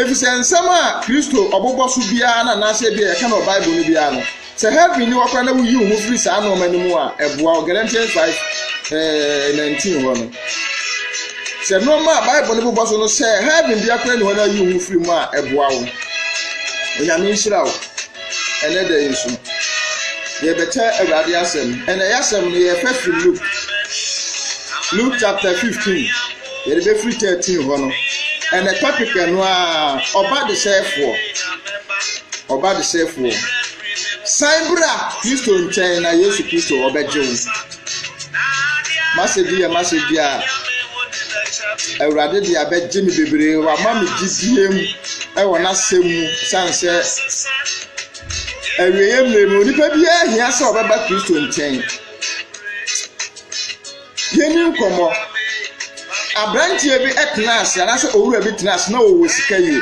Efisɛ nsɛm a Kristo ɔbobɔ so biara na anaasɛ ebia yɛka no wɔ Bible no biara no, sɛ heaven ni hɔ koraa na wuyi wo ho firi saa nneɛma no mu a, ɛboa wo. Galatians 5 ɛɛ 19 hɔ no, sɛ nneɛma a Bible no bobɔ so no, sɛ heaven biara koraa ni hɔ na yi wo ho firi mu a, ɛboa wo. Onyame nhyira wo. Ɛnɛ da yi nso, yɛbɛkyɛ Awurade asɛm. Ɛnɛ yɛ asɛm no yɛpɛ firi Luke. Luke chapter 15. Yɛde bɛfiri thirteen hɔ no ɛnɛ topic ɛno a ɔba desɛɛfoɔ ɔba desɛɛfoɔ san bra kristo nkyɛn na yesu kristo ɔbɛgye wo masɛgye yɛ masɛgye a awurade de abɛgye me bebree wama me gyidie mu ɛwɔ n'asɛm mu san sɛ awieɛ mmerɛ mu onipa biara hia sɛ ɔbɛba kristo nkyɛn Yɛnni nkɔmmɔ. Aberanteɛ bi tenaa ase anaasɛ owura bi tenaa ase na ɔwɔ sika yie.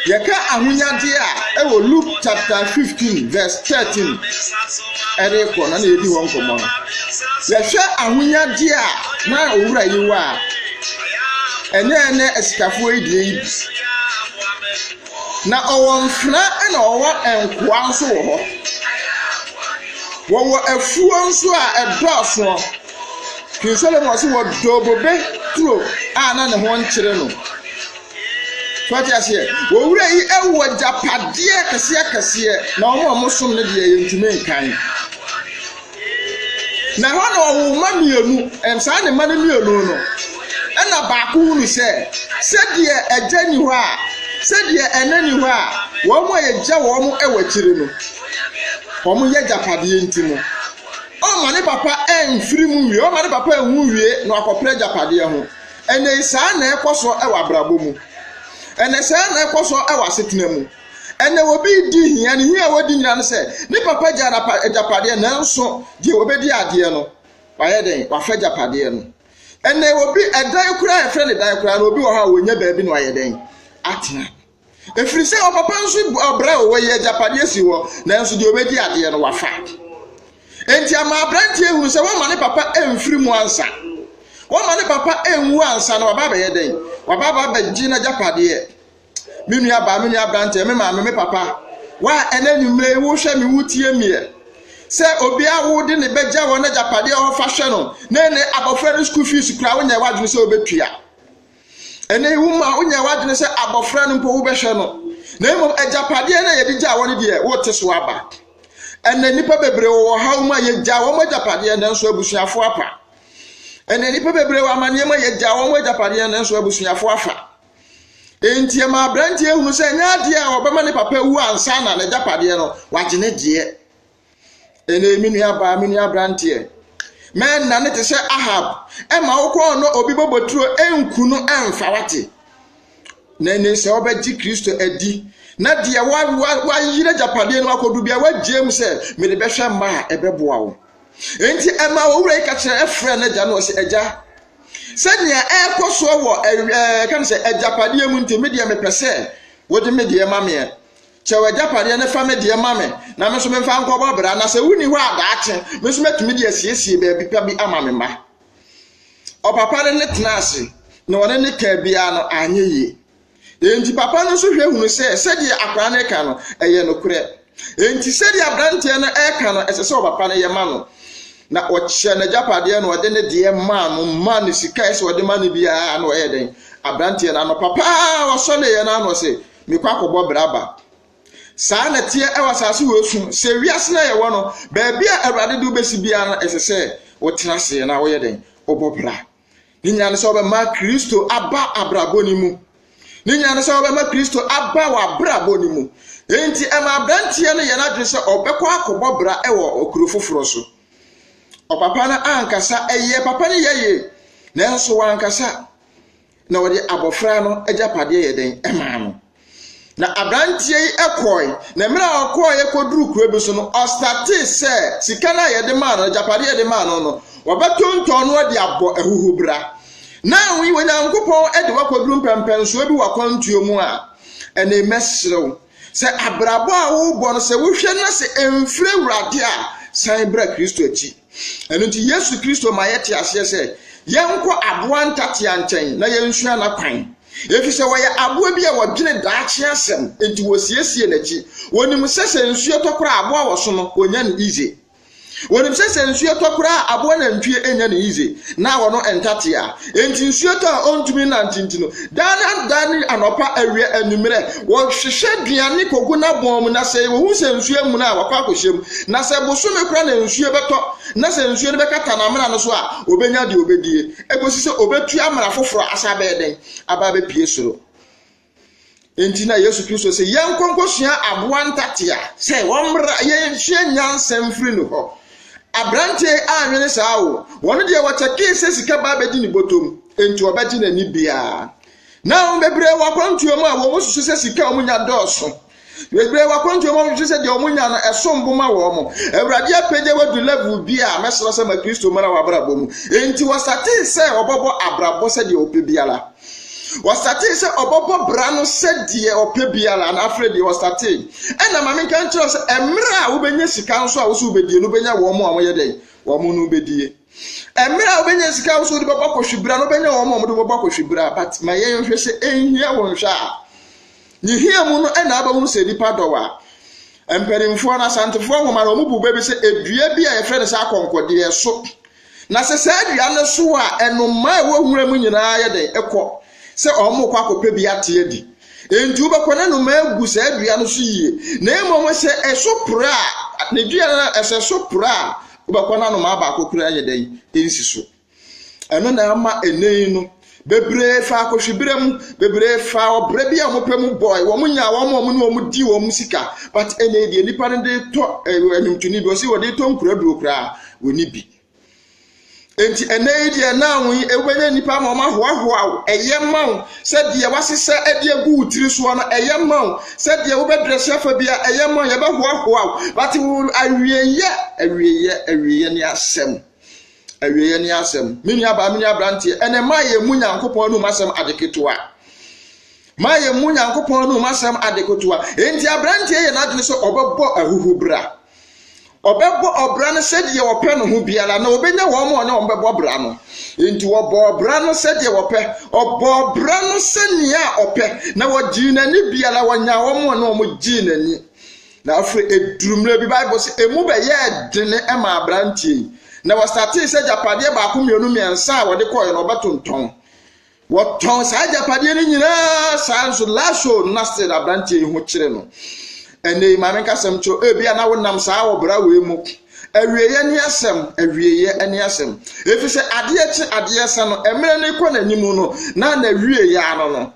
Yɛka ahonyadeɛ a ɛwɔ Luke chapter fifteen verse thirteen ɛde kɔ no na yɛdi hɔ nkɔmmɔ no. Yɛhwɛ ahonyadeɛ a na owura yi wɔ a ɛnyɛ ɛnɛ asikafoɔ yi deɛ yi bi. Na ɔwɔ mfenaa ɛna ɔwɔ nkoa nso wɔ hɔ. Wɔwɔ afuo nso a ɛdɔɔso. King Solomon nso wɔ bobe turo a na ne ho nkyere no. So ate aseɛ? Owura yi ɛwɔ agyapadeɛ kɛseɛ kɛseɛ na wɔn a wɔsom no deɛ yɛntumi nkan. Na ɛhɔ na ɔwoo mma mmienu, ɛnam saa ne mma no mmienu no, ɛna baako hunu sɛ, sɛdeɛ agya ni hɔ a, sɛdeɛ ɛna ni hɔ a, wɔn a yɛgya wɔn wɔ akyire no, wɔn yɛ agyapadeɛ nti no, ɔmma ne papa ɛmfiri mu wie, ɔmma ne papa ɛnwu wie na wakɔpere agyapadeɛ ho. Ɛnɛ saa na ɛkɔ so wɔ abrabɔ mu. Ɛnɛ saa na ɛkɔ so wɔ asetena mu. Ɛnna obi redi hia, ne hia a wɔredi nyinaa ne sɛ ne papa gyaa n'agyapadeɛ, nanso deɛ ɔbɛdi adeɛ no, wayɛ dɛn? Wafa agyapadeɛ no. Ɛnna obi ɛdan koraa a yɛfrɛ no dan koraa no, obi wɔ hɔ a wɔnya baabi na wayɛ dɛn? Atena. Ɛfiri sɛ ɔpapa nso ɔbrɛ o, wɔyi agyapadeɛ si hɔ, nanso deɛ ɔbɛdi adeɛ no, wafa. Enti ama aberanteɛ hunu sɛ wɔama ne papa mfiri mu ansa. Wɔama ne papa nwu ansa na waba abɛyɛ dɛn? Waba aba abɛgye n'agyapadeɛ. me nua baa me nua aberanteɛ me maame me papa wa ɛnɛ nwummerɛ yi wohwɛ me wotie meɛ sɛ obiara wode ne bɛgya wɔn agyapadeɛ a ɔfa hwɛ no ne ne abɔfra no school fees kura wonyɛ w'adwene sɛ wobɛtua ɛnɛ yi woma wonyɛ w'adwene sɛ abɔfra no mpo wobɛhwɛ no na mmom agyapadeɛ no a yɛde gya wɔn deɛ wote so aba ɛnɛ nnipa bebree wɔ haw mu a yɛgya wɔn agyapadeɛ nanso abusuafoɔ apa ɛnɛ nnipa bebree wɔ amanneɛ mu a yɛgya wɔn agyapadeɛ nanso abusuafoɔ afa Enti ɛma aberanteɛ hunu sɛ ɛnyɛ adeɛ a ɔbɛma ne papa wu ansa na n'agyapadeɛ no wagye ne deɛ. Ɛnna me nua baa me nua aberanteɛ. Mɛnna ne te sɛ Ahab ɛma wokɔɔ no obi bɔbɔturo ɛnku no ɛnfa wate. Na ɛnne sɛ wobɛgye Kristo adi na deɛ wayere agyapadeɛ no akɔdu bia wagyeem sɛ mede bɛhwɛ mma a ɛbɛboa wo. Enti ɛma owura yi ka kyerɛ ɛfrɛ n'agya no ɔsɛ agya sɛnea ɛrekɔ soɔ wɔ ɛɛ kan sɛ agyapadeɛ mu nti me deɛ mepɛ sɛ wode me deɛ ma meɛ kyɛw agyapadeɛ ne fa me deɛ ma me na me nso memfa nkɔbɔ bra na sɛ wonni hɔ a daakye me nso mɛtumi de asiesie baabi pa bi ama me mma ɔpapa ne ne tena ase na ɔne ne kaa biara no anyɛ yie Enti papa no nso hwɛ hunu sɛ sɛdeɛ akwadaa no reka no, ɛyɛ nokorɛ. Enti sɛdeɛ aberanteɛ no reka no, ɛsɛ sɛ ɔpapa no yɛ ma no. Na ɔkyɛ n'agyapadeɛ na ɔde ne deɛ maa no, ma ne sika ɛsɛ ɔde ma no biara na ɔyɛ dɛn. Aberanteɛ no anɔpa paa ɔsɔ ne yɛ no ano sɛ, mekɔ akɔbɔ bra ba. Saa na teɛ ɛwɔ asase wɔ esu sɛ wiase na yɛwɔ no, baabi a Awurade de wobɛsi biara no, ɛsɛ sɛ wotena ase na woyɛ dɛn, wobɔ bra. Ne nyinaa ne sɛ wɔbɛma Kristo aba abrabɔ no mu. Ne nyinaa ne sɛ wɔbɛma Kristo aba wɔ abrabɔ no mu. Enti ɛma aberanteɛ no yɛ n'adwene sɛ ɔbɛkɔ akɔbɔ bra wɔ okuro foforɔ so. Ɔpapa no ankasa ɛyɛ papa no yɛ yie nanso wankasa na ɔde abɔfra no agyapadeɛ yɛ dɛn ɛmaa no. Na aberanteɛ yi kɔe, na mmerɛ a ɔkɔeɛ kɔduru kuro bi so no, ɔstartee sɛ sika no a yɛde maa no, agyapadeɛ a yɛde maa no no, wɔbɛtontɔn no de abɔ ahuhubra. Na wei Onyankopɔn de wakɔduru mpɛmpɛnsoɔ bi wɔ akwantuo mu a, ɛnna mɛsrɛ wo sɛ abrabɔ a worebɔ no sɛ wohwɛ na sɛ ɛmfiri Awurade a, san bra Kristo akyi. Ɛno nti, Yesu Kristo ma yɛte aseɛ sɛ yɛnkɔ aboa ntatea nkyɛn na yɛnsua n'akwan. Ɛfiri sɛ wɔyɛ aboa bi a wɔdwene daakye asɛm, enti wɔsiesie n'akyi. Wɔnim sɛ sɛ nsuo tɔ koraa aboa wɔso no, wɔnya no yize. Wɔnim sɛ sɛ nsuo tɔ koraa aboa nantwie nya no yize, na wɔno ntatea. Enti nsuo tɔ a ɔntumi nante nti no, daa na da ne anɔpa awia anwummerɛ wɔhwehwɛ aduane kɔgu n'abɔn mu, na sɛ wɔhu sɛ nsuo amuna a wakɔ akɔhyɛ mu, na sɛ bosome kora na nsuo bɛtɔ na sɛ nsuo no bɛkata n'amena no so a, ɔbɛnya deɛ ɔbɛdie, ɛkɔsi sɛ ɔbɛtu amena foforɔ asa bɛyɛ dɛn aba abɛpue soro. Enti na Yesu Kristo sɛ yɛnkɔ nkɔsua aboa ntate a sɛ wɔmmra yɛnsua nyansa mfiri ne hɔ. Aberanteɛ anwene saa o, wɔn deɛ wɔkyɛkee sɛ sika ba bɛdi ne bɔtɔm, enti wɔbɛgye n'ani biara. Na wɔn bebree wɔ akwantuo mu a wɔn susu sɛ sika a wɔnya dɔɔso. Bebree wɔ akwantuo mu a wɔhwehwɛ sɛ deɛ wɔnya no ɛsom bo ma wɔn. Awurade apagya wo adu level bi a mɛsrɛ sɛ ma Kristo mmara w'abrabɔ mu. Enti wɔsatee sɛ wɔbɛbɔ abrabɔ sɛdeɛ ɔpɛ biara. Wɔsatee sɛ ɔbɛbɔ bra no sɛdeɛ ɔpɛ biara na afei deɛ wɔsatee. Ɛna ma menka nkyerɛ sɛ mmerɛ a wobɛnya sika nso a wo so wobɛdie no wobɛnya wɔn a wɔyɛ dɛn wɔn no wobɛdie. Mmerɛ a wobɛnya sika a wo so wode bɛbɔ akɔhwebira no wobɛnya wɔn a wɔde bɛbɔ akɔhwebira but ma yɛnhwɛ sɛ ɛnhia wo nhwɛ a Ne hia mu no na abɛhunu sɛ nnipa dɔw a. Mpanimfoɔ no, Asantefoɔ nwoma no, wɔn bu bɛ bi sɛ edua bi a yɛfrɛ no sɛ akɔnkɔdeɛ ɛso. Na sɛ saa dua no so a, ɛnomaa ɛwɔ nwura mu nyinaa yɛ dɛn ɛkɔ sɛ wɔn kɔ akɔpɛ bi ate adi. Enti wobɛkɔ na nnomaa agu saa dua no so yie. Na mmom sɛ ɛso pere a, ne dua no ɛsɛ so pere a, wobɛkɔ na nnomaa baako koraa yɛ dɛn nsi so. Ɛno na ama ɛnnɛ yi no bebree fa akɔhwebere mu bebree fa ɔbrɛ bi a wɔpɛ mu bɔe wɔn nya wɔn a wɔn ne wɔn di wɔn sika but ɛnna yɛ deɛ nipa no de tɔ ɛɛ ɛnumtoni bi ɔsi wɔde tɔ nkuraduro koraa wɔni bi nti ɛnɛ yi deɛ naa wɔn yi ɛwɛnyɛ nipa ma wɔn ahoahoa wo ɛyɛ ma wo sɛ deɛ wasesa ɛde agu wo tiri soɔ no ɛyɛ ma wo sɛ deɛ wobɛdrɛsi afa bi a ɛyɛ ma wo yɛbɛhoahoa wo but wo awieyɛ awieyɛ awieyɛ ne asɛm. Awieeɛ ne asɛm. Me nuabaa, me nuabranteɛ, ɛnɛ ma yɛn mu Nyankopɔn anum asɛm ade ketewa. Ma yɛn mu Nyankopɔn anum asɛm ade ketewa. Enti abranteɛ yɛ n'adwene sɛ ɔbɛbɔ ahuhubra. Ɔbɛbɔ ɔbra no sɛdeɛ ɔpɛ no ho biara na ɔbɛnya wɔn a ɔne wɔn bɛbɔ ɔbra no. Enti ɔbɔ ɔbra no sɛdeɛ ɔpɛ. Ɔbɔ ɔbra no sɛnea ɔpɛ na ɔgyee n'ani biara ɔnyaa wɔn a ɔne wɔn gyee n'ani. Na afei eduru mmerɛ bi Bible sɛ emu bɛyɛɛ dene maa aberanteɛ yi, na wɔsatee sɛ agyapadeɛ baako mmienu mmiɛnsa a wɔde kɔɔɛ no wɔbɛtontɔn. Wɔtɔn saa agyapadeɛ no nyinaa saa nso Lasso nasted aberanteɛ yi ho kyere no. Ɛnna yi maame nkasɛm kyerɛ ebi a na wonam saa ɔbra wei mu. Awieeɛ ne asɛm, awieeɛ ne asɛm. Ɛfiri sɛ adeɛ kye adeɛ sa no, mmerɛ no kɔ n'anim no, na n'awieeɛ ano no.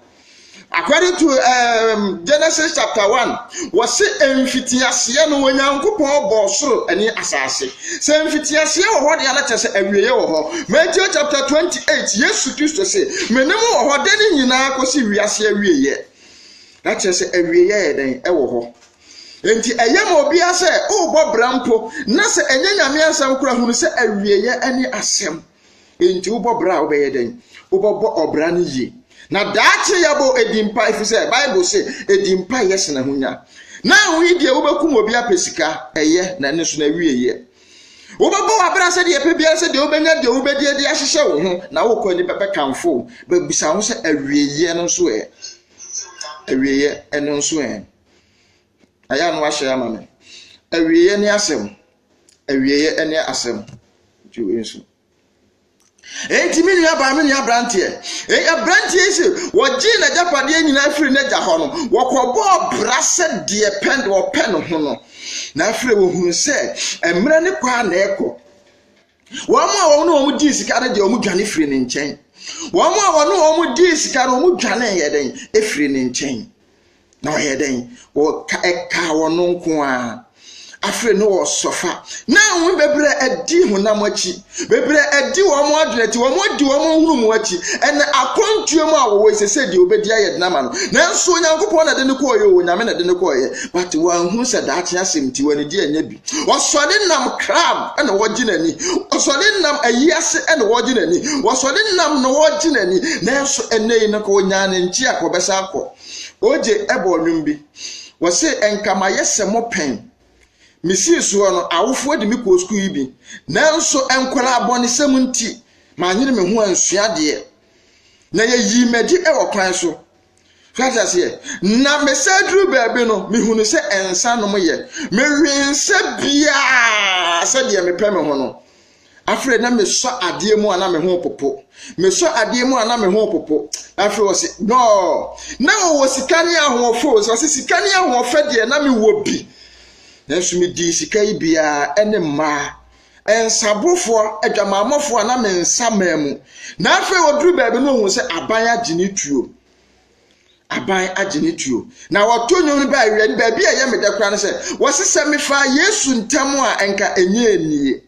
According to um, Genesis chapter 1, wɔse mfitiaseɛ no Onyankopɔn bɔɔ soro ne asase. Sɛ mfitiaseɛ wɔ hɔ deɛ na kyerɛ sɛ awieeɛ wɔ hɔ. Matthew chapter 28, Yesu Kristo se, me ne mo wɔ hɔ de ne nyinaa kɔsi wiase awieeɛ. Na kyerɛ sɛ awieeɛ yɛ dɛn ɛwɔ hɔ. Enti ɛyɛ ma obiara sɛ worebɔ bra mpo na sɛ ɛnyɛ nyame asɛm kora hunu sɛ awieeɛ ne asɛm. Enti wobɔ bra a, wobɛyɛ dɛn? Wobɛbɔ ɔbra no yie. Na daakye yɛbɔ ɛdi mpa, ɛfiri sɛ Bible se ɛdi mpa yɛ sena ho nya. Na wo yi deɛ wobɛkum obi apɛ sika, ɛyɛ, na ɛno nso na ɛwie yɛ. Wobɛbɔ w'abra sɛdeɛ ɛpɛ biara sɛ deɛ wobɛnya deɛ wobɛdi adi ahyehyɛ wo ho, na wokɔ ani bɛbɛkamfo wo. Bɛbisa ho sɛ awieɛ no nso ɛ? Awieɛ ɛno nso ɛ? Ɛyɛ a na wahyɛ ama me. Awieeɛ ne asɛm. Awieeɛ ne asɛm. Nti wei nso. Enti me nua baa me nua aberanteɛ. Aberanteɛ yi sɛ wɔgyee n'agyapadeɛ nyinaa firi n'agya hɔ no, wɔkɔbɔɔ bra sɛ deɛ pɛ deɛ ɔpɛ ne ho no. Na afei wɔhunu sɛ mmerɛ ne kɔ a na ɛkɔ. Wɔn a wɔne wɔn dii sika no deɛ wɔdwane firi ne nkyɛn. Wɔn a wɔne wɔn dii sika no wɔdwane yɛ dɛn firi ne nkyɛn. Na wɔyɛ dɛn? Wɔka ɛkaa wɔn nko ara. Afei no wɔsɔfa. Na wɔn bebree adi honam akyi. Bebree adi wɔn adwene akyi. Wɔn adi wɔn nhunumu akyi. Ɛnna akwantuo mu a wɔwɔ sɛ sɛ deɛ wɔbɛdi ayɛ den ama no. Nanso Onyankopɔn na ɛde ne kɔɔyɛ o, Onyame na ɛde ne kɔɔyɛ. But wɔanhu sɛ daakye asɛm ti wɔn ani gye ɛnyɛ bi. wɔsɔre nam kram na wɔgye n'ani wɔsɔre nam ayi ase na wɔgye n'ani wɔsɔre nam na wɔgye n'ani nanso ɛnna yi no ka onyaa ne nkye a kɔbɛsa akɔ ogye ɛbɔ nnwom bi wɔse nkamayɛ sɛ mo pɛn mesii soɔ no awofoɔ de me kɔɔ sukuu yi bi nanso nkwadaa abɔnesɛm nti manyere me ho ansua adeɛ na yɛyii m'adi wɔ kwan so So ate aseɛ? Na mesan duru baabi no, mehunu sɛ nsa nom yɛ. Mewee nsa biara sɛdeɛ mepɛ me ho no. Afei na mesɔ adeɛ mu a na me ho popo. Mesɔ adeɛ mu a na me ho popo. Afei ɔse, no, na ɔwɔ sika ne ahoɔfɛ o. Ɔse sika ne ahoɔfɛ deɛ na mewɔ bi. Nanso medii sika yi biara ne mmaa Nsabrofoɔ, adwamammɔfoɔ a na me nsa maa mu. Na afei ɔduru baabi no ɔhu sɛ aban agye ne tuo. Aban agye ne tuo. Na wɔto nnwom no baa awia no baabi a ɛyɛ me dɛ koraa no sɛ wɔse sɛ mefaa Yesu ntam a nka ɛnyɛ annie.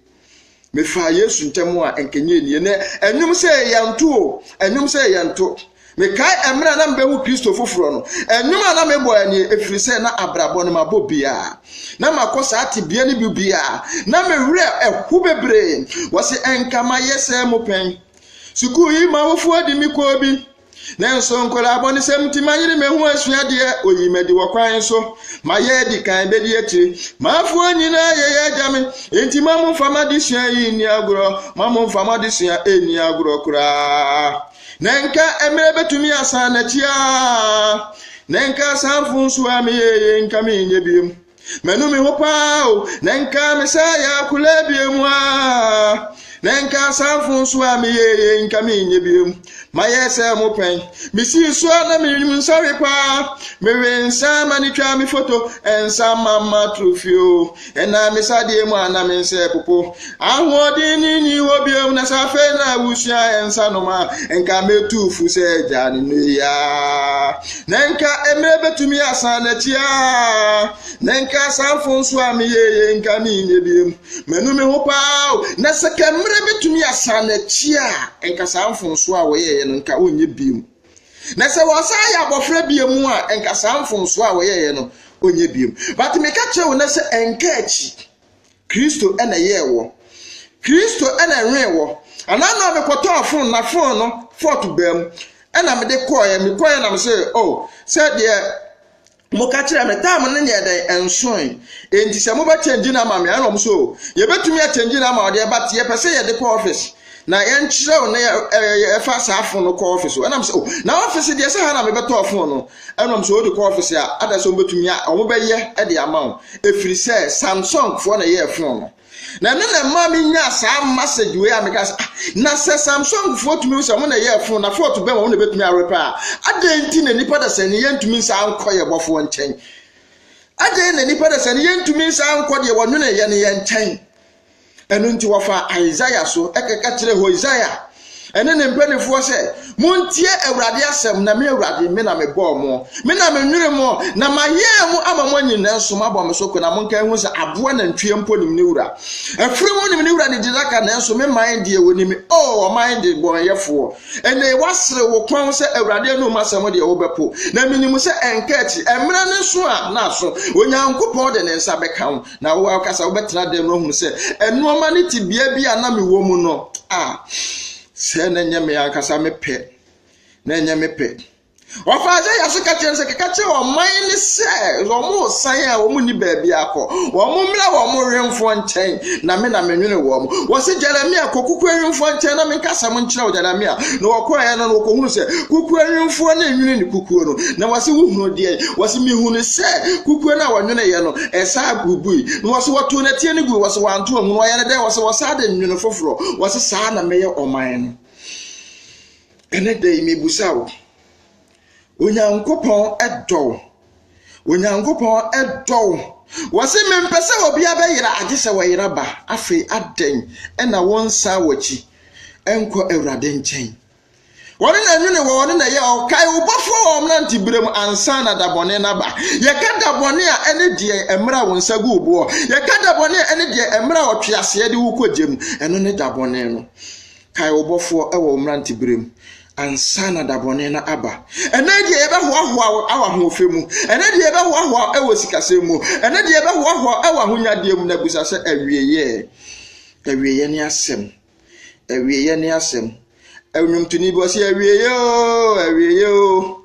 Mefaa Yesu ntam a nka ɛnyɛ annie. Na ɛnwom sɛ yɛnto o, ɛnwom sɛ yɛnto. Mekae ɛmere a na mebehu Kristo foforɔ no, ɛnwom a na mebɔ ɛne ɛfiri sɛ na abrabɔ no mabɔ biara. Na makɔ saa tebea no bi biara, na me werɛ ɛho bebree. Wɔse ɛnka mayɛ sɛ mo pɛn. Sukuu yi ma awofoɔ de me kɔɔ bi. Nanso nkwadaa bɔnesɛm nti mayere me ho asuadeɛ, oyi madi wɔ kwan so. Mayɛ adi kan bɛdi akyire. M'afoɔ nyinaa yɛyɛ agya me. Enti ma momfa m'adesua yi nni agorɔ, ma momfa m'adesua nni agorɔ koraa. Na nka mmerɛ bɛtumi asan n'akyi aa Na nka saa mfonsuo a meyɛ yɛ nka menyɛ biom Manu me ho paa o Na nka mesɛ yɛ akolaa biom aa Na nka saa mfonsuo a meyɛ yɛ nka menyɛ biom Mayɛ sɛ mo pɛn Mesii so a na menim nsɔre paa Mewe nsa ma ne twa me foto Nsa mama trofio Ɛnam me sadeɛ mu a na me nsa repopo. Ahoɔden no nni hɔ bio, na sɛ afei na wosua nsanom a, nka mɛtu fo sɛ agyaa no nnɛ yi ara. Na nka mmerɛ bɛtumi asan n'akyi ara. Na nka saa mfomsoɔ a meyɛɛ yei nka menyɛ bio. Manu me ho paa o. Na sɛ ka mmerɛ bɛtumi asan n'akyi a, nka saa mfomsoɔ a wɔyɛeɛ no nka wɔnyɛ bio. Na sɛ wɔsan yɛ abɔfra bio mu a, nka saa mfomsoɔ a wɔyɛeɛ no, ɔnyɛ bio. But meka kyerɛ wo nɛ sɛ ɛnka akyi. Kristo na ɛyɛɛ wɔ. Kristo na ɛwee wɔ. Anaa na mekɔtɔɔ fon na fon no fɔt baa mu. Ɛna mede kɔɔeɛ, mekɔɔeɛ na mesɛ, oh, sɛ deɛ Moka kyerɛɛ me, tam no nyɛɛ dɛn? Ɛnsoe. Enti sɛ mobɛkyɛngye no ama me a, ɛna wɔn so, yɛbɛtumi akyɛngye no ama wo deɛ, but yɛpɛ sɛ yɛde kɔ office na yɛnkyerɛw na yɛfa saa fon no kɔ office. Ɛnam sɛ, oh, na office deɛ sɛ ha na mebɛtɔɔ fon no. Ɛnam sɛ wode kɔ office a, ada sɛ wɔbɛtumi a wɔbɛyɛ de ama wo. Ɛfiri sɛ, Samsung foɔ na ɛyɛɛ fon no. na ɛno na ɛma menyaa saa message wei a meka sɛ ah, na sɛ samsungfoɔ tumi sɛ ɔmo na ɛyɛ fon na fɔɔto bɛn wɔn na ɛbɛtumi arepɛ a adɛn nti na nipa da sɛ ne yɛntumi nsa nkɔ yɛ bɔfoɔ nkyɛn adɛn na nipa da sɛ ne yɛntumi nsa nkɔ deɛ wɔnwene yɛ ne yɛ nkyɛn ɛno nti wɔfa isaiah so ɛkɛkɛ kyerɛ hosea ɛne ne mpanimfoɔ sɛ, Montie Awurade asɛm, na me Awurade, me na mebɔɔ mo, me na menwene mo, na mayɛɛ mo ama moanyin nanso moabɔ me so ko, na monka ɛho sɛ aboa nantwie mpo nim ne wura. Afiri mu nim ne wura ne gyinaka, nanso me man deɛ wɔnim, o ɔman de bɔnyɛfoɔ. Ɛnɛ woasere wo kɔn sɛ Awurade anum asɛm deɛ wobɛpo, na menim sɛ ɛnka akyi, ɛmmerɛ ne so a na aso, Onyankopɔn de ne nsa bɛka wo. Na wo ankasa wobɛtena dɛm na woahunu sɛ nneɛma no te bea bi a na mewɔ mu no a sɛ na ɛnyɛ me ankasa mepɛ na ɛnyɛ mepɛ ɔfa isaia so ka kyerɛ sɛ keka kyerɛ ɔman ne sɛ wɔn san a wɔn nni baabi akɔ wɔn mmra wɔn wemfoɔ nkyɛn na me na menwene wɔn wɔse jeremia kɔ kuku awemfoɔ nkyɛn na menka sɛm nkyerɛ wo jeremia na wɔkɔɛ no na wɔkɔhunu sɛ kuku awemfoɔ ne nwene ne kukuo no na wɔse wohunu deɛ wɔse mehunu sɛ kukuo no a wɔnweneyɛ no Ɛsaa bubui. Na wɔse wɔtoo no atia no gui. Wɔse wanto anhunu. Ɔyɛ no dɛn? Wɔse wɔsaa de nwono foforɔ. Wɔse saa na mɛyɛ ɔman no. Ɛnɛ da yi mebusa wo, Onyankopɔn dɔ wo? Onyankopɔn dɔ wo? Wɔse mempɛ sɛ obiara bɛyera agye sɛ wɔyera ba. Afei adɛn na wonsan w'akyi nkɔ Awurade nkyɛn? Wɔn na nwene wɔ wɔn na ɛyɛ ɔkae wo bɔfoɔ wɔ wɔn nante berɛ mu ansa na da bɔne no aba. Yɛka da bɔne a ɛne deɛ mmerɛ a wo nsa gu wo boɔ. Yɛka da bɔne a ɛne deɛ mmerɛ a ɔtwe aseɛ de wo kɔ gya mu. Ɛno ne da bɔne no. Kae wo bɔfoɔ wɔ wɔn nante berɛ mu ansa na da bɔne no aba. Ɛnɛ deɛ yɛbɛhoahoa wɔ ahoɔfɛ mu. Ɛnɛ deɛ yɛbɛhoahoa wɔ sikasɛm mu. Ɛnɛ deɛ yɛbɛhoahoa wɔ ahonyadeɛ mu na bisa sɛ awieɛ. Awieɛ ne asɛm. Awieeɛ ne asɛm. Nnwomtoni bi ɔsi awieeɛ oo, awieeɛ oo.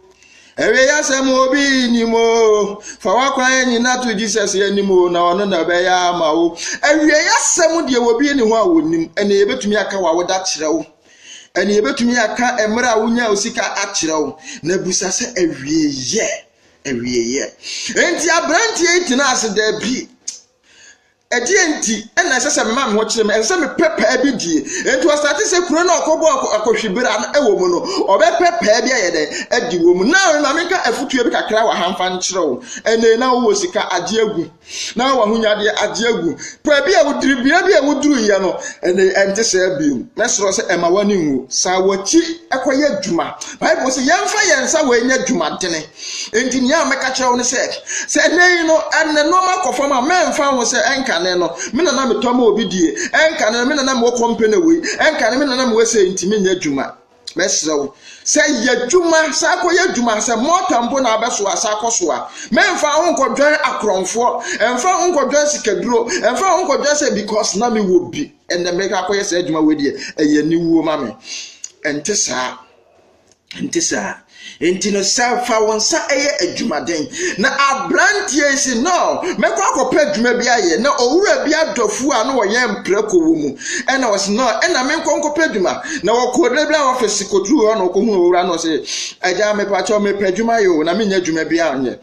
Awieeɛ asɛm obi nim oo. Fa w'akwan nyina to Jesus anim o, na ɔno na ɔbɛyɛ ama wo. Awieeɛ asɛm deɛ obi ne ho a wɔnim. Ɛne yɛbɛtumi aka w'awoda akyerɛ wo. Ɛne yɛbɛtumi aka mmerɛ a wonya wo sika akyerɛ wo. Na busa sɛ awieeɛ, awieeɛ. Enti aberanteɛ yi tena ase daabi. Ɛdeɛ nti na ɛsɛ sɛ mema me ho kyerɛ me? Ɛsɛ sɛ mepɛ paa bi die. Enti ɔsate sɛ kuro no a ɔkɔbɔ akɔhwibera no wɔ mu no, ɔbɛpɛ paa bi ayɛ dɛn adi wɔ mu. Now ma menka afutuo bi kakra wɔ ha mfa nkyerɛ wo. Ɛnee na wowɔ sika agye agu. Na wowɔ ahonyadeɛ agye agu. Paa bi a wodiri bea bi a woduruiɛ no, ɛne ɛnte sɛ bio. Mɛsrɛ sɛ ɛma w'ani nwu. Saa w'akyi kɔyɛ adwuma. Bible sɛ yɛmfa yɛn nsa wɔ ɛnyɛ adwumadene. Enti nea mɛka kyerɛ wo ne sɛ, sɛ ɛnnɛ yi no nneɛma kɔ fam a, mɛmfa ho sɛ ɛnkane no, me na na metɔ ma obi die, ɛnkane no, me na na mewɔ kɔmpɛ na wei, ɛnkane me na na mewɔ sɛ enti menyɛ adwuma. Mɛsrɛ wo sɛ yɛ adwuma, saa kɔyɛ adwuma, sɛ mɔta mpo na abɛsoa, saa kɔsoa. Mɛmfa ho nkɔdwɛn akorɔmfoɔ, ɛmfa ho nkɔdwɛn sikaduro, ɛmfa ho nkɔdwɛn sɛ because na mewɔ bi, ɛnna mɛkɔ akɔyɛ saa adwuma wei deɛ, ɛyɛ aniwuo ma me. Ɛnte saa. Ɛnte saa. Enti no, sɛ fa wo nsa yɛ adwumaden. Na aberanteɛ yi si no, mɛkɔ akɔpɛ adwuma bi ayɛ. Na owura bi adɔfoɔ a na wɔyɛ mprako wɔ mu. Ɛna ɔsi no, ɛna menkɔ nkɔpɛ adwuma. Na wɔkɔ dɛ bi a wɔfɛsi kɔduru hɔ na ɔkɔhunu owura no sɛ, agya mepakyɛw mepɛ adwuma yɛ o, na menya adwuma bi anyɛ.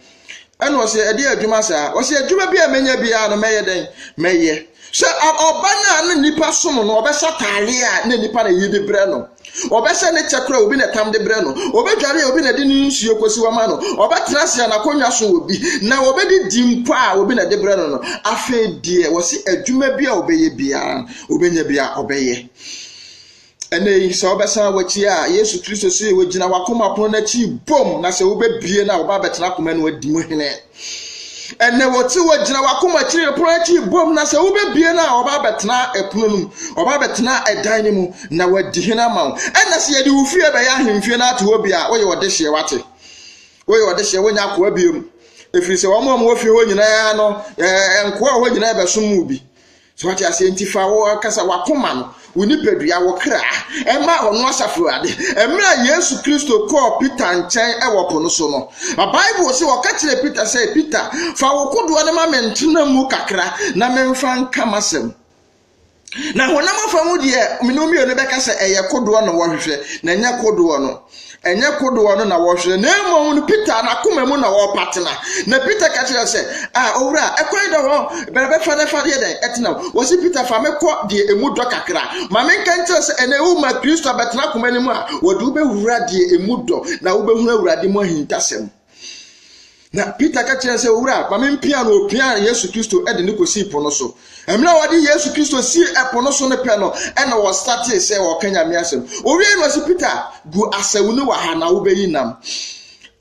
Ɛna ɔsɛ ɛde adwuma saa ɔsɛ adwuma bi a mɛnya biara no mɛyɛ dɛn mɛyɛ sɛ ɔba no a na nipa som no ɔbɛhyɛ ataade a na nipa na ɛyi de brɛ no ɔbɛhyɛ ne kyɛ kora obi na ɛtam de brɛ no ɔbɛdware obi na ɛde ne nsuo kɔsi wama no ɔbɛtena ase a n'akonnwa so obi na ɔbɛdi di mpo a obi na ɛde brɛ no no afei deɛ wɔsi adwuma bi a ɔbɛyɛ biara ɔbɛnya bi a ɔbɛyɛ Ɛnna yi, sɛ wobɛsan w'akyi a, Yesu Kristo se wogyina w'akoma pono no akyi bom, na sɛ wobɛbie no a, wɔba abɛtena akoma no adi mu hene. Ɛnna wɔte wogyina w'akoma akyiri no pono akyi bom, na sɛ wobɛbie no a, wɔba abɛtena ɛpono no mu, wɔba abɛtena ɛdan no mu, na wɔadi hene ama wo. Ɛnna sɛ yɛde wo fie bɛyɛ ahemfie no ato hɔ bi a, woyɛ ɔde hyeɛ wate. Woyɛ ɔde hyeɛ, wonya akoa biom. Ɛfiri sɛ wɔn a wɔwɔ fie hɔ nyinaa no, nkoa a wɔwɔ nyinaa bɛsom mu bi. So wate aseɛ? Nti fa wo ankasa w'akoma no, wo nipadua, wo kra, ɛma ɔno asafo Awurade. Mmerɛ a Yesu Kristo kɔɔ Peter nkyɛn wɔ po no so no, Bible sɛ ɔka kyerɛɛ Peter sɛ, Peter, fa wo kodoɔ no ma me ntena mu kakra na memfa nka m'asɛm. Na honam afa mu deɛ, mene mmienu bɛka sɛ ɛyɛ kodoɔ na wɔhwehwɛ, na ɛnyɛ kodoɔ no. Ɛnyɛ kodoɔ no na wɔhwehwɛ, na mmom no Peter n'akoma mu na wɔrepa tena. Na Peter ka kyerɛ sɛ, a owura, ɛkwan da hɔ, bɛrɛ bɛfa na ɛfa deɛ dɛn ɛtena. Wɔsi Peter fa me kɔ deɛ emu dɔ kakra. Ma menka nkyerɛ sɛ ɛnɛ woma Kristo abɛtena akoma no mu a, wɔde wobɛwura deɛ emu dɔ, na wobɛhunu Awurade mu ahintasɛm. Na Peter ka kyerɛɛ sɛ, Owura, ma me mpia no. Opiaa Yesu Kristo de no kosii po no so. Mmerɛ a wɔde Yesu Kristo sii ɛpo no so no pɛ no, ɛna wɔsatee sɛ wɔka Nyame asɛm. Owiei no ɔse Peter, gu asau no wɔ ha na wobɛyi nam.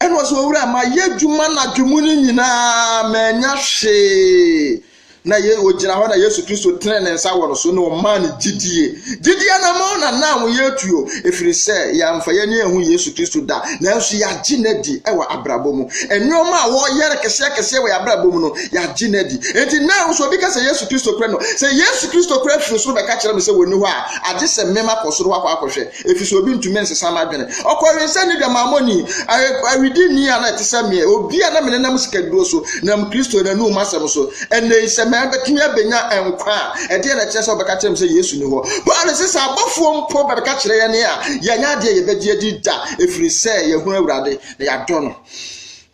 Ɛna ɔse, Owura, mayɛ adwuma anadwo mu no nyinaa, mannya hwee. Na ye, ogyina hɔ na Yesu Kristo tenee ne nsa wɔ no so na ɔmaa no gyidie. Gyidie anammɔn na na ho yɛ tuo, ɛfiri sɛ yɛamfa yɛn ani anhu Yesu Kristo da, nanso yɛagye no adi wɔ abrabɔ mu. Nneɛma a wɔyɛ no kɛseɛ kɛseɛ wɔ yɛn abrabɔ mu no, yɛagye no adi. Enti nnɛ nso obi ka sɛ Yesu Kristo kura no, sɛ Yesu Kristo kura firi soro bɛka kyerɛ me sɛ wɔnni hɔ a, agye sɛ mema kɔ soro hɔ akɔ akɔhwɛ. Efisɛ obi ntumi nsesa n'adwene. Ɔkɔwee sɛ ne dwam Amonni, aweredini a na ɛte sɛ me, obi a na menenam sikaduro so nam Kristo n'anom asɛm so. Ɛnnɛ yi, sɛ mɛbɛtumi abɛnya nkwa a, ɛdeɛn na ɛkyerɛ sɛ wɔbɛka kyerɛ me sɛ Yesu nni hɔ? Paulo se sɛ abɔfoɔ mpo bɛka kyerɛ yɛn a, yɛnyɛ adeɛ a yɛbɛgye adi da, ɛfiri sɛ yɛahunu Awurade, na yɛadɔ no.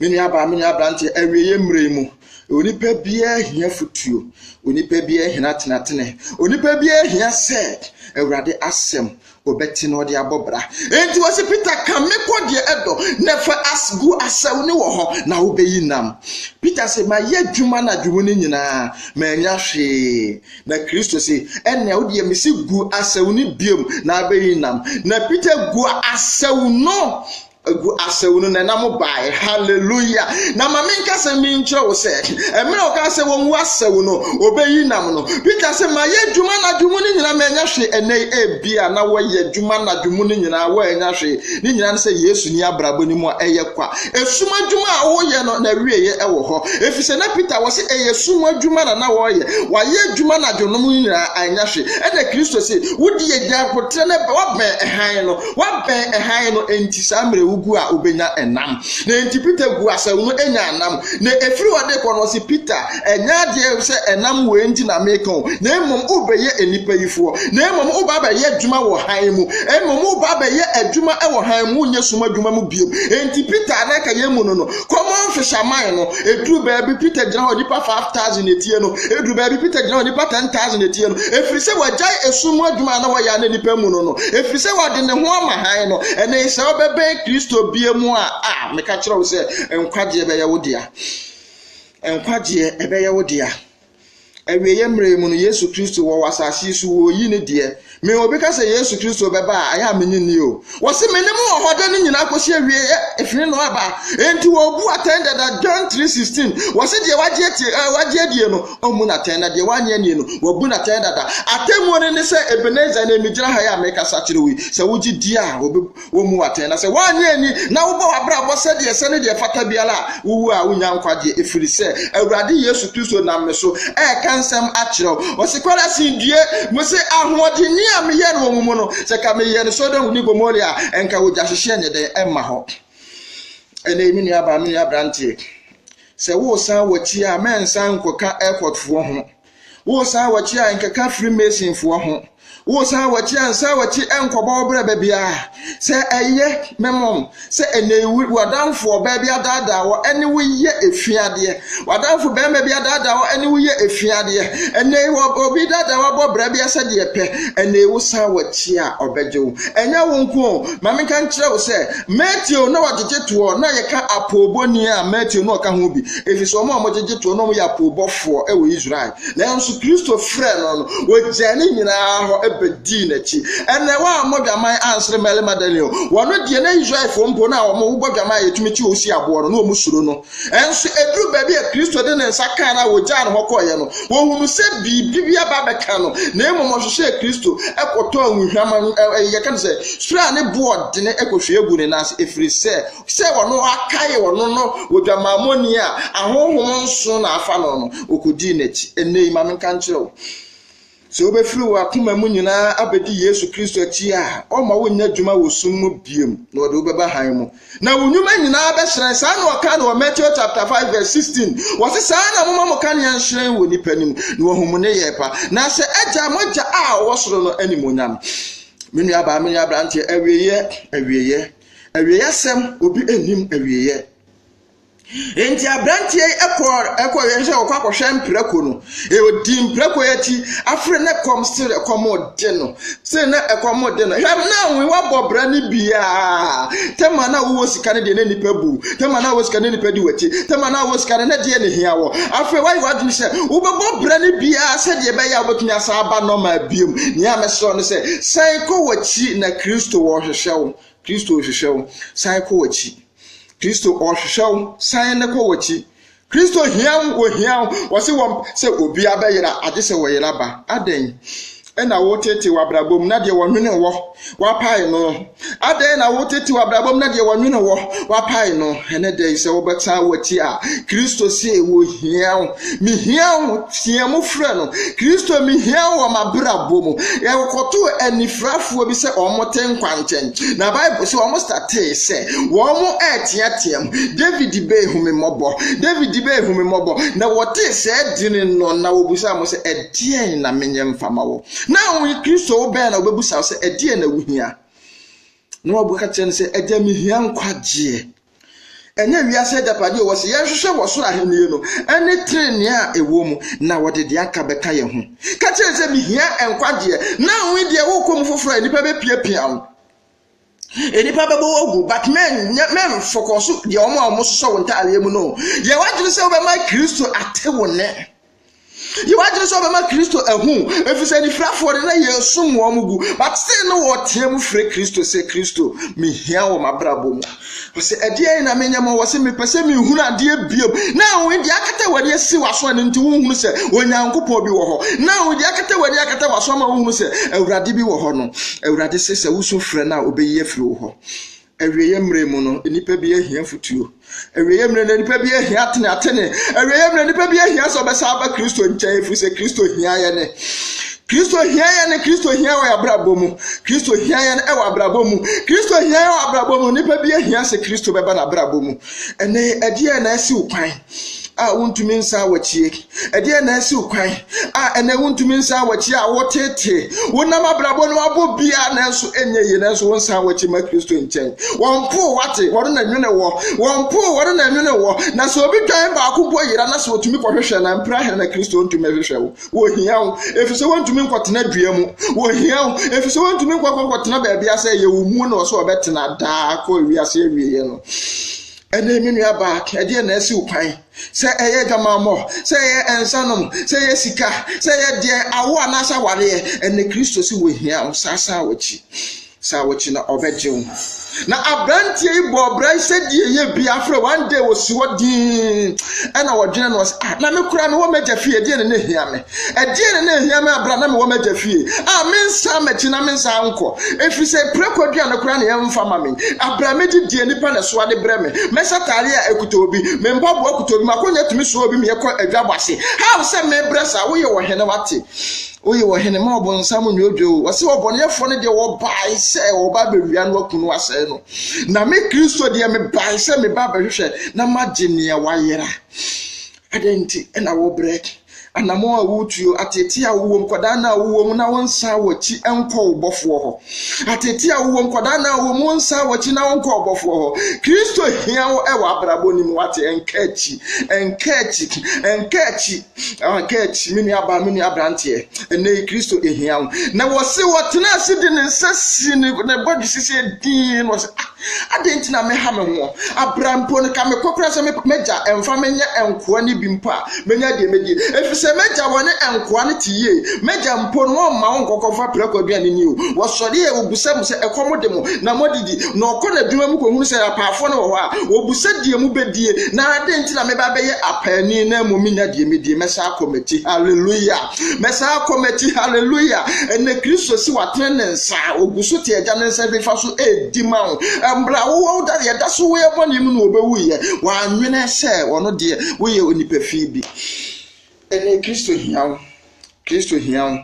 Me nuabaa, me nua aberanteɛ, awieeɛ mmerɛ yi mu, Onipa biara hia afotuo, onipa biara hia atenatene, onipa biara hia sɛ Awurade asɛm ɔbɛte na ɔde abɔ bra. Enti wɔsi Peter ka me kɔ deɛ ɛdɔ na fa as gu asau ne wɔ hɔ na wobɛyi nam. Peter sɛ mayɛ adwuma na adwuma no nyinaa manya hwee. Na Kristo sɛ ɛnna wodeɛ mesi gu asau no biom na abɛyi nam. Na Peter gu asau no agu asau no na ɛnam baeɛ hallelujah na ma menka sɛ menkyerɛ wo sɛ mmerɛ ɔka sɛ wɔngu asau no ɔbɛyi nam no peter sɛ mayɛ adwuma anadwo mu no nyinaa manya hwe ɛnɛ ebia na wɔyɛ adwuma anadwo mu no nyinaa wɔanya hwe ne nyinaa no sɛ yesu ni abrabɔ no mu a ɛyɛ kwa ɛsum adwuma a woyɛ no na awieɛ ɛwɔ hɔ ɛfiri sɛ na peter wɔ sɛ ɛyɛ sum adwuma na na wɔyɛ wayɛ adwuma anadwo no mu nyinaa anya hwe ɛna kristo se wodi agya potrɛ no wabɛn hann no Wabɛn hann no, enti saa mmerɛ wogu a wobɛnya nam. Na enti Peter guu asau no nyaa nam. Na ɛfiri hɔ de kɔ no ɔse, Peter, ɛnyɛ adeɛ sɛ ɛnam wei nti na meka o, na mmom wobɛyɛ nnipa yi foɔ, na mmom woba abɛyɛ adwuma wɔ hann mu, mmom woba abɛyɛ adwuma wɔ hann mu, wonyɛ sum adwuma mu bio. Enti Peter a na anka yɛmmu no no, Common fisherman no, ɛduru baabi Peter gyina hɔ nipa 5,000 na ɛtie no, ɛduru baabi Peter gyina hɔ nipa 10,000 na ɛtie no, ɛfiri sɛ wagyae ɛsum mu adwuma a na wɔyɛ a na nipa mu no no, ɛfiri sɛ wade ne ho ama hann no, ɛne sɛ wobɛbɛn Kristo bie mu a, a, meka kyerɛ wo sɛ, nkwagyeɛ bɛyɛ wo dea. Nkwagyeɛ ɛbɛyɛ wo dea. Awieɛ mmerɛ yi mu no, Yesu Kristo wɔ wɔ asase yi so, wɔyi ne deɛ. Me obi ka sɛ Yesu Kristo bɛba a, ayɛ a menye nni o. Wɔse me ne mo wɔ hɔ da no nyinaa kɔsi awieɛ, ɛfiri no aba. Enti wɔbu atɛn dada, John 3:16. Wɔse deɛ wagye atie, eh, wagye adie no, ɔmmu no atɛn, na deɛ wannye annie no, wɔbu no atɛn dada. Atemmuo no ne sɛ, Ebenezer, ɛnɛ megyina ha yi a merekasa kyerɛ wo yi, sɛ wogye die a, wɔbɛ. Wommu wo atɛn, na sɛ woannye anni na wobɔ w'abrabɔ sɛdeɛ ɛsɛ ne deɛ ɛfata biara a, wowu a wonnya nkwagyeɛ, ɛfiri sɛ Awurade Yesu Kristo nam me so reka nsɛm akyerɛ wo. Ɔse, Korasin, due! Mose ahoɔdenne a meyɛɛ no wɔ mo mu no, sɛ ka meyɛɛ no Sodom ne Gomora a, ɛnka wogyahyehyɛ nyɛ dɛn ɛmma hɔ. Ɛnɛ yi, me nuabaa, me nua aberanteɛ, sɛ woresan w'akyi a, mɛnsan nkɔka airportfoɔ ho. Woresan a wɔkye a nkeka Freemasonfoɔ ho. Woresan a wɔkye a nsa a wɔkye nkɔbɔ wo berɛ baabiara. Sɛ ɛyɛ memom sɛ ɛnɛ w'adamfoɔ baa bi adaadaa wɔ ɛne wo yɛ efiadeɛ. W'adamfo bɛrima bi adaadaa wɔ ɛne wo yɛ efiadeɛ. Ɛnɛ obi daadaa wabɔ berɛ bi asɛ deɛ pɛ. Ɛnɛ wosan wɔkye a ɔbɛgye wo. Ɛnyɛ wo nko o. Ma menka nkyerɛ wo sɛ Matthew na wɔgyegye toɔ na yɛka apoobɔni a Matthew na ɔka ho bi. Efisɛ wɔn a wɔgyegye toɔ na wɔyɛ apoobɔfoɔ wɔ Israel. Nanso Kristo frɛɛ no no, wɔgyaa ne nyinaa hɔ bɛdii n'akyi. Ɛnna wɔammɔ dwaman ansere mmarima da ni o. Wɔn deɛ na Israelfoɔ mpo no a wɔbɔ dwaman a yɛtumi kye wɔn si aboɔ no, na wɔsuro no. Nanso ɛduru baabi a Kristo de ne nsa kaa no a wɔgyaa no hɔ kɔeɛ no, wɔhunu sɛ biribi bi aba abɛka no, na mmom wɔhwehwɛɛ Kristo kɔtɔɔ nwohwam, yɛka no sɛ, suraa ne boɔ dene kɔhwie guu ne nan ase, ɛfiri sɛ sɛ ɔno akae ɔno no odwamammɔni a ahonhom nson na afa no no, okodii n'akyi. Ɛnnɛ yi, ma menka nkyerɛ wo, sɛ wobɛfiri w'akoma mu nyinaa abɛdi Yesu Kristo akyi a, ɔmma wonyɛ adwuma wɔ sum mu biom, na ɔde wobɛba hann mu. Na wo nnwuma nyinaa bɛhyerɛn. Saa na ɔka no wɔ Matthew chapter 5 verse 16. Wɔse saa na moma mo kanea nhyerɛn wɔ nnipa anim, na wɔahu mo nneyɛɛ pa, na ahyɛ agya mo agya a ɔwɔ soro no animuonyam. Me nuabaa, me nuabranteɛ, awieɛ, awieɛ. Awieeɛ asɛm, obi nnim awieeɛ. Enti aberanteɛ yi kɔɔ ɛkɔ yɛ sɛ ɔkɔ akɔhwɛ mprako no ɔdi mprako yɛ akyi afere ne kɔm se ɛkɔm de no se na ɛkɔm de no hwɛ na wo wabɔ bra ne biaa tɛma na wowɔ sika no deɛ ne nipa bu tɛma na wowɔ sika ne nipa di w'akyi tɛma na wowɔ sika no ne deɛ ne hia wɔ afei wayɛ w'adwene sɛ wobɛbɔ bra ne biaa sɛdeɛ ɛbɛyɛ a wobɛtumi asan aba nɔma biom nea mɛsrɛ no sɛ san kɔ w'akyi na kristo wɔhwehwɛ ɔrehwehwɛ wo. Kristo rehwehwɛ wo. San kɔ w'akyi. Kristo ɔrehwehwɛ wo. San ne kɔ w'akyi. Kristo hia wo, ohia wo. Wɔse wɔn sɛ obi abɛyera agye sɛ wɔyera ba. Adɛn? Ɛna wotetee w'abrabɔ mu na deɛ wɔnwene wɔ wapae no. Adɛn na wotetee w'abrabɔ mu na deɛ wɔnwene wɔ wapae no. Ɛnɛ dɛn sɛ wobɛsan w'akyi a Kristo se ohia wo. Mihia wo, teɛ mu frɛ no. Kristo, mihia wo wɔ m'abrabɔ mu. Yɛkɔtoo anifirafoɔ bi sɛ wɔte nkwa nkyɛn. Na Bible sɛ wɔn statee sɛ wɔn reteateam, David bɛɛ hu me mmɔbɔ, David bɛɛ hu me mmɔbɔ. Na wɔtee sɛɛ dini no na wɔbusaa mo sɛ ɛdeɛn na menyɛ mfa ma wo. Na wɔn Kristo wo bɛn na wɔbɛbusa wo sɛ ɛdeɛn na wohia. Na wɔbɛka kyerɛ no sɛ agya mehia nkwagyeɛ. Ɛnyɛ wiase agyapade o, wɔsi yɛnhwehwɛ wɔ soro ahenni no ne trenee a ɛwɔ mu, na wɔde deɛ aka bɛka yɛn ho. Ka kyerɛ sɛ mihia nkwagyeɛ, na wo deɛ wokɔ mu foforɔ a nnipa bɛpiapia wo. Nnipa bɛbɔ wo agu, but mɛmfɔkɔ so deɛ wɔn a wɔsosɔ wo ntaadeɛ mu no. Yɛ w'adwene sɛ wobɛma Kristo ate wo nne. Yehowa gyina sɛ ɔbɛma Kristo ahu, efisɛ anifirafoɔ de na yɛsum wɔn gu. But sei no wɔteɛ mu frɛ Kristo sɛ Kristo, mehia wɔ m'abrabɔ mu. Ɔsɛ ɛdeɛn na menyɛ ma wɔ sɛ mepɛ sɛ mehunu adeɛ biom. Na wɔn deɛ akata w'ani asi w'aso ɛno nti wohunu sɛ Onyankopɔn bi wɔ hɔ. Na wɔn deɛ akata w'ani akata w'aso ama wohunu sɛ Awurade bi wɔ hɔ no. Awurade se sɛ wosu frɛ no a, ɔbɛyi afiri wo hɔ. Awieeɛ mmerɛ mu no, nnipa bi ahia afotuo. Awieeɛ mmerɛ no, nnipa bi ahia atenatene. Awieeɛ mmerɛ, nnipa bi ahia sɛ ɔbɛsa aba Kristo nkyɛn, ɛfiri sɛ Kristo hia yɛn. Kristo hia yɛn, Kristo hia wɔ abrabɔ mu. Kristo hia yɛn wɔ abrabɔ mu. Kristo hia yɛn wɔ abrabɔ mu. Nnipa bi ahia sɛ Kristo bɛba n'abrabɔ mu. Ɛnɛ, ɛdeɛ na asiw kwan. a wontumi nsan wɔakyi. Ɛdeɛn na asi wo kwan a ɛnɛ wontumi nsan wɔakyi a wotetee wonam abrabɔ no abɔ biara nanso ɛnyɛ yie nanso wonsan wɔakyi ma Kristo nkyɛn. Wɔn po wate wɔn na nwene wɔ wɔn po wɔn na nwene wɔ na sɛ obi dwan baako mpo yera na sɛ otumi kɔhwehwɛ na mpira hɛn na Kristo ntumi hwehwɛ wo. Wɔhia wo efisɛ wɔntumi nkɔtena dua mu. Wɔhia wo efisɛ wɔntumi nkɔkɔkɔtena baabi asɛ yɛ wo mu na ɔsɛ ɔbɛtena daa kɔ wiase awieɛ no. Ɛnɛ me nua baa, ɛdeɛn na asi wo kwan? Sɛ ɛyɛ adwamammɔ, sɛ ɛyɛ nsanom, sɛ ɛyɛ sika, sɛ ɛyɛ deɛ awo anaasɛ awareɛ, ɛnɛ Kristo se wɔhia wo saa saa wɔkyi. Saa wɔkyi na ɔbɛgye wo. Na aberanteɛ yi bɔ ɔbra yi sɛ deɛ ɛyɛ bi afrɛ one day wɔsi hɔ dinn ɛna wɔdwene no sɛ ah na me koraa mewɔ m'agya fie ɛdeɛn na ɛhia me? Ɛdeɛn na na ɛhia me berɛ a na mewɔ m'agya fie a mensan m'akyi na mensan nkɔ, ɛfiri sɛ prako aduane koraa na ɛmfa mma me. Abrɛ a medi deɛ nnipa na ɛsoa de brɛ me, mɛhyɛ atadeɛ a ɛkuta obi, me mpaboa kuta obi, m'akonnwa tumi soa obi ma yɛkɔ adwabɔ ase. How sɛ mebrɛ saa? Woyɛ ɔhene, wate? Woyɛ ɔhene, ma ɔbonsam nnwodwo wo. Ɔse ɔbɔneɛfoɔ no deɛ wɔbae sɛ wɔba abɛwia no, aku no, asɛe no. Na me Kristo deɛ mebae sɛ meba abɛhwehwɛ na magye nea wayera. Adɛn nti na wobrɛ? Anammɔn a woretuo, ateetee a wowom, kwadaa no a wowom na wonsan w'akyi nkɔ wo Bɔfoɔ hɔ. Ateetee a wowom, kwadaa no a wowom, wonsan w'akyi na wonkɔ wo Bɔfoɔ hɔ. Kristo hia wo wɔ abrabɔ no mu, wate? Ɛnka akyi, ɛnka akyi, ɛnka akyi, ɛnka akyi, me nua baa, me nua aberanteɛ. Ɛnɛ yi, Kristo hia wo. Na wɔse wɔtena ase de ne nsa si ne bɔdwe sisi din, na wɔse, ah, Adɛn nti na meha me ho? Abira mpo no, ka mekɔ koraa sɛ m'agya mfa me nyɛ nkoa no bi mpo a, mɛnya deɛ mɛdie, ɛfiri sɛ m'agya wɔ ne nkoa no te yie. M'agya mpo no, wɔmma wɔn nkɔkɔfa prako aduane nni o. Wɔsɔre a, wɔbisa mo sɛ, 'Ɛkɔm de mo? Na moadidi? Na ɔkɔ n'adwuma mu kɔhunu sɛ apaafoɔ no wɔ hɔ a, wɔbisa deɛ mobɛdie. Na adɛn nti na mɛba abɛyɛ apaani na mmom mennya deɛ mɛdie? Mɛsan akɔ m'akyi. Hallelujah! Mɛsan akɔ m'akyi, hallelujah. Ɛnna Kristo si watene ne nsa, ogu so te agya ne nsa nifa so edi ma wo. Mmerɛ a wowɔ wo da yɛda so wɔ yɛ bɔne mu no wɔbɛwuiɛ, wɔanwene sɛ ɔno deɛ woyɛ onipa fii bi. Ɛnna Kristo hia wo, Kristo hia wo,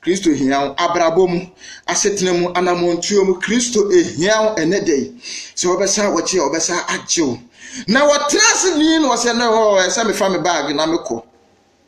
Kristo hia wo abrabɔ mu, asetena mu, anammɔntuo mu, Kristo ehia wo ɛnɛ da yi. Sɛ wɔbɛsan wɔkyi a wɔbɛsan agye wo. Na wɔtena ase nii na wɔsɛ no hɔ ɛsɛ mefa me baage na mekɔ.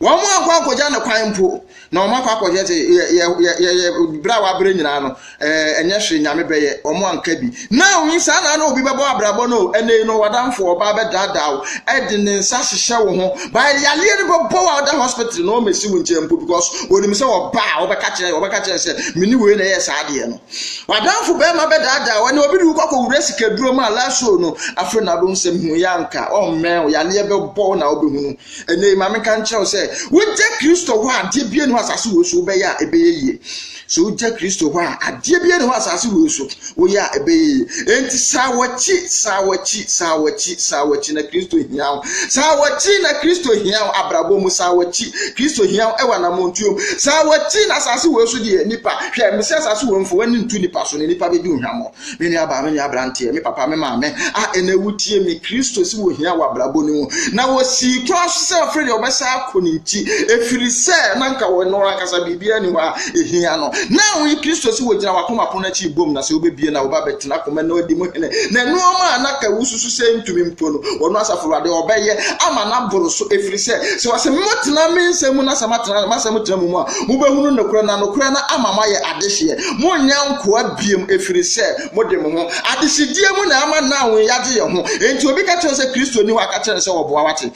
Wɔankɔ akɔgya no kwan mpo, na wɔakɔ akɔgya sɛ yɛyɛ berɛ a wɔabrɛ nyinaa no, ɛnyɛ hwee nyame bɛyɛ, wɔanka bi. Na oyi saa na na obi bɛbɔ abrabɔ no, ɛnna yi no wadanfo ɔbaa bɛdaadaa wo, ɛde ne nsa hyehyɛ wo ho, baa yareɛ no bɛbɔ wo a ɔda hospital na wɔmɛsi wo nkyɛn mpo because wɔnim sɛ ɔbaa a wɔbɛka kyerɛ wɔbɛka kyerɛ sɛ mene wei na ɛyɛ saa adeɛ no. Wadanfo bɛrima bɛdaadaa wo, ɛnna obi de wo kɔkɔ wura sikaduro mu a last show no afei na abɛhu sɛ hu yɛ anka ɔmmɛn wo, yareɛ bɛbɔ wo na wobɛhunu. Ɛnnɛ yi, ma menka nkyerɛ wo sɛ, wogya Kristo hɔ a, adeɛ biara nni hɔ asase wei so wobɛyɛ a ɛbɛyɛ yie. So wogya Kristo hɔ a, adeɛ biara nni hɔ asase wei so woyɛ a ɛbɛyɛ yie. Enti saa w'akyi, saa w'akyi, saa w'akyi, saa w'akyi na Kristo hia wo. Saa w'akyi na Kristo hia wo abrabɔ mu, saa w'akyi. Kristo hia wo ɛwɔ anammɔntuo mu. Saa w'akyi na asase wei so deɛ nipa, hwɛ, mesɛ asase wei mfa w'ani nto nipa so na nipa bɛdi wo hwammɔ. Me nua baa me nua abranteɛ, me papa, me maame a ɛnɛ wotie me, Kristo si wɔ hia wɔ abrabɔ no mu. Na wɔsii kwan so sɛ ɔfiri deɛ ɔbɛsa akɔ ne nti, ɛfiri sɛ na nka wɔ no ankasa biribiara ni hɔ a ɛhia no. Na woyi Kristo si wɔ gyina wakoma pono akyi bom, na sɛ wobɛbie na woba bɛtena koma na ɔdi mu hene. Na nnoɔma a na ka wosusu sɛ ntumi mpo no, ɔno asafo awurade ɔbɛyɛ ama no aboro so, ɛfiri sɛ sɛ ɔse motena me nsɛm mu na sɛ matena masɛm tena mu mu a, mobɛhunu nokorɛ na nokorɛ no ama moayɛ adehyeɛ. Monnyɛ nkoa bio, ɛfiri sɛ mode mo ho. Adehyedeɛ mu na ama now yɛagye yɛn ho. Enti obi ka kyerɛ sɛ Kristo ni hɔ a, ka kyerɛ no sɛ ɔboa wate.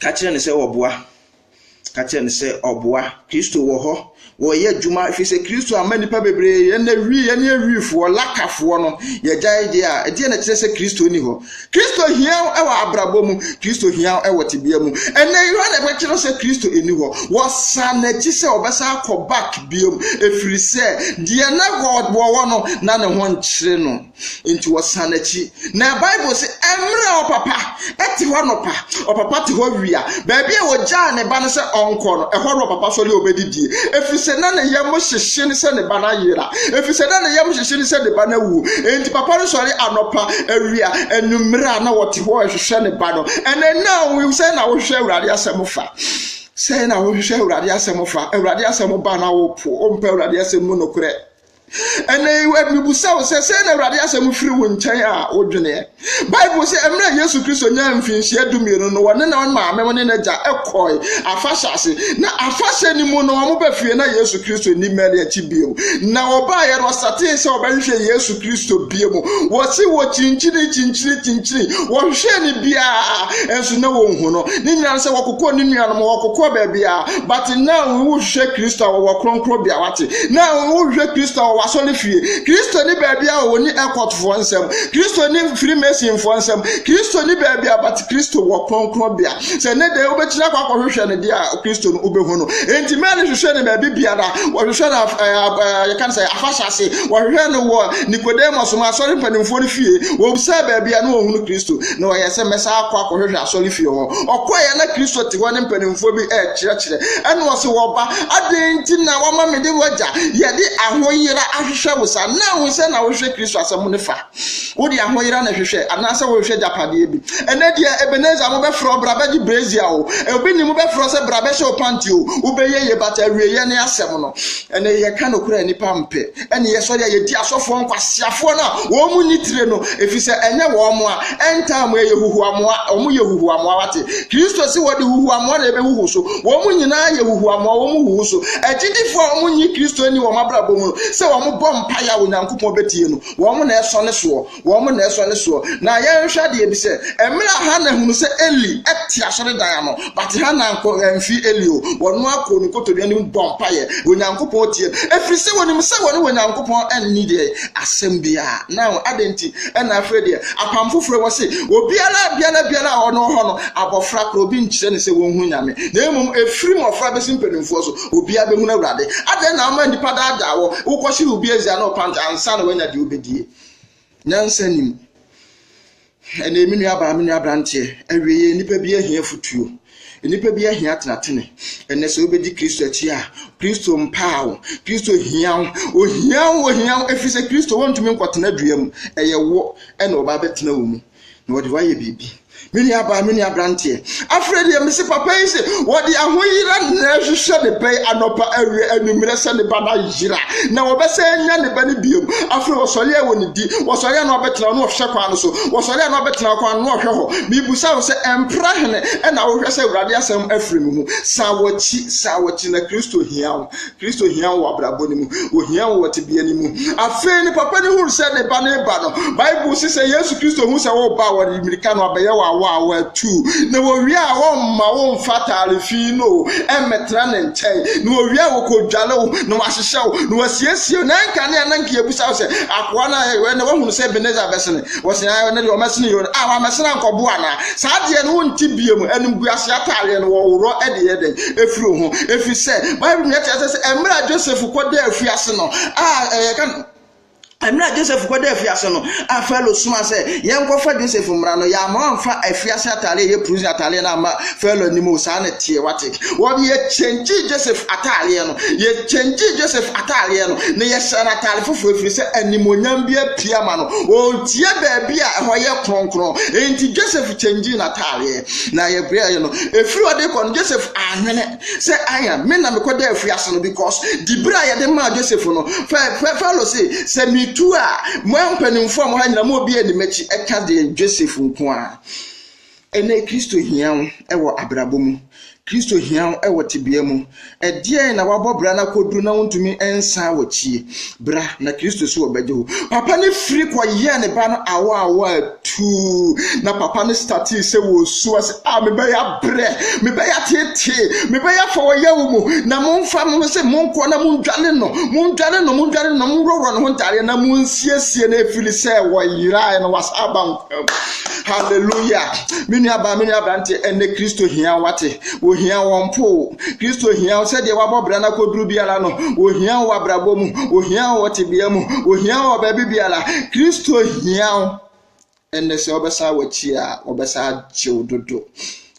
Ka kyerɛ no sɛ ɔboa. Ka kyerɛ no sɛ ɔboa. Kristo wɔ hɔ. Wɔyɛ adwuma ɛfiri sɛ Kristo ama nnipa bebree yɛn na wi yɛne awifoɔ lakafoɔ no yɛgyae deɛ a ɛdeɛ na ɛkyerɛ sɛ Kristo ni hɔ. Kristo hia wo wɔ abrabɔ mu, Kristo hia wo wɔ tebea mu. Ɛnnɛ Yohane ɛbɛkyerɛ sɛ Kristo ɛni hɔ. Wɔsan n'akyi sɛ ɔbɛsan akɔ back biom ɛfiri sɛ deɛ na wɔwɔ no na ne ho nkyere no nti wɔsan n'akyi. Na Bible se ɛmmerɛ ɔpapa ɛte hɔ anɔpa, ɔpapa te hɔ awia, Baabi a ɔgyaa ne ba no sɛ ɔnkɔ no, ɛhɔ na ɔpapa sɔre a ɔbɛdidie, ɛfiri sɛ na ne yam hyehye no sɛ ne ba no ayera, ɛfiri sɛ na ne yam hyehye no sɛ ne ba no awu. Enti papa no sɔre anɔpa, awia, anwummerɛ a na ɔte hɔ rehwehwɛ ne ba no. Ɛnɛ na sɛn na wohwehwɛ Awurade asɛm fa? Sɛn na wohwehwɛ Awurade asɛm fa? Awurade asɛm ba na wopo, wompɛ Awurade asɛm mu nokorɛ. Ɛnnɛ yi, mebisa wo sɛ, sɛn na Awurade asɛm firi wo nkyɛn a wodweneɛ? Bible sɛ mmerɛ Yesu Kristo nyaa mfinhyia dumienu no, wɔne ne maame ne n'agya kɔe afahyɛ ase. Na afahyɛ no mu no, wɔba fie na Yesu Kristo nni mmɛne akyi bio. Na wɔbaeɛ no, wɔsatee sɛ wɔbɛhwehwɛ Yesu Kristo bio mu. Wɔse wɔkyinkyini kyinkyini kyinkyini, wɔhwehwɛɛ no biara, nso na wɔnhu no. Ne nyinaa sɛ wɔkokɔɔ ne nuanom, wɔkokɔɔ baabiara. But na wohwehwɛ Kristo a wɔwɔ kronkronbea wate. Na wohwehwɛ Kristo a wɔwɔ asɔre fie. Kristo ni baabi a wɔni ɛkɔtfoɔ nsɛm. Kristo ni firimasinfoɔ nsɛm. Kristo ni baabi a but Kristo wɔ kronkronbea. Sɛ ne deɛ wobɛtumi akɔ akɔhwehwɛ no deɛ a Kristo no wobɛhu no. Enti Mary hwehwɛ no baabi biara. Wɔhwehwɛ no yɛka no sɛ afahyɛ ase. Wɔhwehwɛ no wɔ Nicodemus mu asɔre mpanimfoɔ no fie. Wɔbisa baabi a na wɔhunu Kristo. na ɔyɛ sɛ mɛsan akɔ akɔhwehwɛ asɔrefie hɔ ɔkɔe a na kristo te hɔ ne mpanimfoɔ bi ɛrekyerɛkyerɛ ɛna ɔse wɔba adɛn nti na wama me de wagya yɛde ahoyera ahwehwɛ wo sa na wo sɛ na wohwehwɛ kristo asɛm ne fa wode ahoyera na hwehwɛ anaasɛ wohwehwɛ gyapadeɛ bi ɛnɛ deɛ ebeneza mobɛfrɛ ɔbra bɛgye brezia o obi ni mobɛfrɛ sɛ bra bɛhyɛ wo panti o wobɛyɛ yɛ bata awieɛ ne asɛm no ɛnɛ yɛka nokorɛ nipa mpɛ ɛne yɛsɔre a yɛdi asɔfoɔ nkwaseafoɔ no a wɔn mu ni tire no ɛfiri sɛ ɛnyɛ wɔn mo a ɛntaa mu ɛyɛ huhuamoa wɔn yɛ huhuamoa wate kristo si wɔde huhuamoa na ɛbɛhuhu so wɔn mu nyinaa yɛ huhuamoa wɔn mu huhu so agyidifoɔ a wɔn nyi kristo ni wɔn abrabɔ mu no sɛ wɔn bɔ mpaeɛ a onyankopɔn bɛtie no wɔn na ɛsɔ ne soɔ Wɔn na ɛsɔ ne soɔ. Na yɛnhwɛ adeɛ bi sɛ, mmerɛ a Hana hunu sɛ Eli te asɔredan ano, but Hana ankɔ, amfiri Eli o, ɔno ara kɔɔ ne nkotodwe anim bɔɔ mpaeɛ, Onyankopɔn tiee, ɛfiri sɛ ɔnim sɛ ɔne Onyankopɔn nni deɛ, asɛm biara. Now, adɛn nti na afei deɛ, apam foforɔ wɔ se, obiara biara biara a ɔno hɔ no, abɔfra korɔ, obi nkyerɛ no sɛ ɔnhunu Nyame, na mmom ɛfiri mmɔfra bɛsi mpanimfoɔ so, obiara bɛhunu Awurade. Adɛn na woma nnipa daadaa wo, wokɔhyere obi asia ne wo pant ansa na woanya deɛ wobɛdie? Nyansa nim. Ɛnee me nua baa me nua abranteɛ ɛwie yɛ nnipa bi ahia futuo nnipa bi ahia tenatene ɛnɛ sɛ wobɛdi kristo akyi a kristo mpaa wo kristo hia wo ohia wo ohia wo ɛfiri sɛ kristo wɔntumi nkɔtena dua mu ɛyɛ wo ɛna ɔba bɛtena wo mu na wɔde wayɛ biribi. Me nua baa, me nua branteɛ, afrɛ deɛ mese papa yi se wɔde ahoyera na ɛhwehwɛ ne bɛn anɔpa awia anwummerɛ sɛ ne ba no ayera na wɔbɛsɛ anya ne ba no biom. Afrɛ wɔsɔre a wɔ ne di, wɔsɔre a na wɔbɛtena hɔ na wɔhwɛ kwan no so, wɔsɔre a na wɔbɛtena kwan no na wɔhwɛ hɔ. Mebusa wo sɛ ɛmpra hene ɛna wohwɛ sɛ Awurade asɛm afiri me ho? San wakyi, san wakyi na Kristo hia wo. Kristo hia wo wɔ abrabɔ no mu, ohia wo wɔ tebea no mu. Afei ne papa no hunu sɛ ne ba no reba no. Bible se sɛ Yesu Kristo hu sɛ woreba a, wɔde mmirika no abɛyɛ wo awɔ a wɔatu. Na wɔwie a, wɔmma wo mfa atare fi no o, ɛmmɛtena ne nkyɛn. Na wɔwie a, wɔkɔdware wo, na wɔahyehyɛ wo, na wɔasiesie wo. Na ɛnka ne a na nka yɛbisa wo sɛ, akoa no a na wahunu sɛ Ebenezer bɛsene, wɔsene a ɛno deɛ wɔmɛsene yɛ a, wammɛsene ankɔboa anaa? Saa deɛ no wonte biam, animguaseɛ ataareɛ no wɔworɔ de yɛ dɛn? ɛfiri wo ho ɛfiri sɛ bible mu yɛte asɛ sɛ ɛmmerɛ a joseph kɔda afiase no a ɛyɛ ka ɛmmerɛ a joseph kɔda afiase no a falo soma sɛ yɛnkɔfa joseph mmara no yɛama amfa afiase atare ɛyɛ prison atareɛ no ama falo anim o saa na teɛ wate wɔde yɛkyɛngye joseph atareɛ no yɛkyɛngye joseph atareɛ no na yɛhyɛ no atare foforɔ ɛfiri sɛ animonyam bi apia ma no ɔntie baabi a ɛhɔ yɛ kronkron enti joseph kyɛngye n'atareɛ na yɛ bere a yɛ no efiri ɔde kɔ no joseph ahwene sɛ aya me na mekɔ dɛ afiri ase no because di bere a yɛde maa joseph no fɛ falo se sɛ metu a mo mpanimfo a mo ha nyina mo obi ani m'akyi ɛka deɛ joseph nko a ɛnɛ kristo hia wo ɛwɔ abrabɔ mu Kristo hia wo wɔ tebea mu. Ɛdeɛn na wabɔ bra no akɔduru na wontumi nsan wɔkyi? Bra na Kristo so ɔbɛgye wo. Papa no firi kɔyɛɛ ne ba no awa awa tuu na papa no statee sɛ wɔsu ase a mebɛyɛ abrɛ, mebɛyɛ atetee, mebɛyɛ afa wɔyɛ wo mu na momfa mo no sɛ monkɔ na mondwane no, mondwane no, mondwane no, monworɔworɔ ne ho ntaadeɛ na monsiesie no ɛfiri sɛ wɔyerae no wasa aba nkwa. Hallelujah. Me nuabaa, me nuabrante, ɛnɛ Kristo hia wate. Ohia wɔn po. Kristo hia wo sɛdeɛ wabɔ bra no akɔduru biara no. Ohia wo abrabɔ mu. Ohia wo tebea mu. Ohia wo baabi biara. Kristo hia wo. Ɛnɛ sɛ wɔbɛsan w'akyi a, wɔbɛsan agye wo dodo.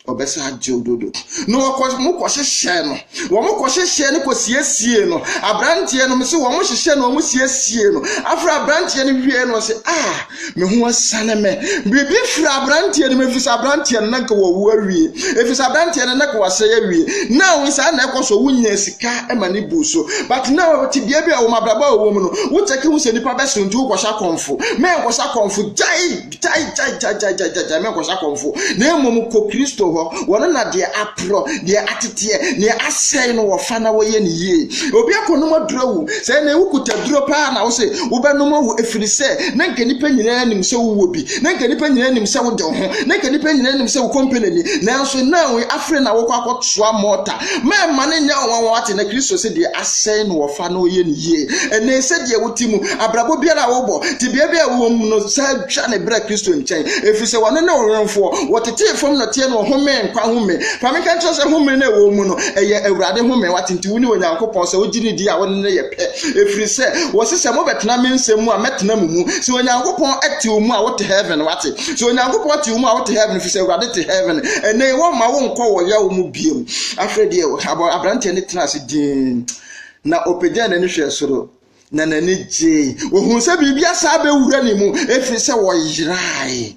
ɔbɛsa agyew dodo na wɔkɔ wɔn kɔhyehyɛ no wɔn kɔhyehyɛ no kɔsiesie no aberanteɛ no mo sɛ wɔn hyehyɛ no wɔn siesie no afra aberanteɛ no wie no sɛ a ah, me ho asane mɛ biribi fira aberanteɛ no mu efisɛ aberanteɛ no nanka wɔwu awie efisɛ aberanteɛ no nanka wɔasɛe awie na wɔn saa na ɛkɔ so wonya sika ɛma ne bu so but na wɔte bea bi a wɔn abrabɔ a wɔwɔ mu no wokyɛke ho sɛ nipa bɛso nti wokɔhyɛ akɔnfo mɛ nkɔhyɛ akɔnfo gyae gyaegyaegyaegyaegyae mɛnkɔhyɛ akɔmfo na mmom kɔ kristo hɔ wɔno na deɛ aporɔ deɛ ateteɛ deɛ asɛe no wɔfa na wɔyɛ ne yie obi akɔnom aduro awu sɛ na ewu kuta duro paa na wose wobɛnom awu ɛfiri sɛ na nka nnipa nyinaa nim sɛ wowɔ bi na nka nnipa nyinaa nim sɛ wode ho na nka nnipa nyinaa nim sɛ wo kɔmpanani nanso na afei na wokɔ akɔtoa mɔta mɛma no nyɛ wɔn wɔn ate na kristo sɛ deɛ asɛe no wɔfa na wɔyɛ ne yie ɛnɛ sɛ deɛ wote mu Abrabɔ biara a wobɔ, tebea biara a wowɔ mu no, san twa ne bra Kristo nkyɛn, efisɛ ɔno ne wo wɛmfoɔ. Wɔtetee fam nɔteɛ na wɔhomee nkwa home. Fa me nka nkyerɛ wo sɛ home no a ɛwɔ wo mu no, ɛyɛ Awurade home. Wate? Nti wone Onyankopɔn sɛ wogye no di a, wo ne no yɛ pɛ. Ɛfiri sɛ, wɔse sɛ mobɛtena me nsɛm mu a, mɛtena mo mu. Sɛ Onyankopɔn te wo mu a, wote heaven. Wate? Sɛ Onyankopɔn te wo mu a, wote heaven, efisɛ Awurade te heaven. Ɛnnɛ yi, wɔmma wonkɔ wɔ yaw mu bio. Afei deɛ, aberanteɛ no tenaa ase dinn, na ɔpagyaa n'ani hwɛɛ soro. na n'ani gyee. Ohun sɛ biribi asa abɛwura ne mu ɛfiri sɛ wɔyerae.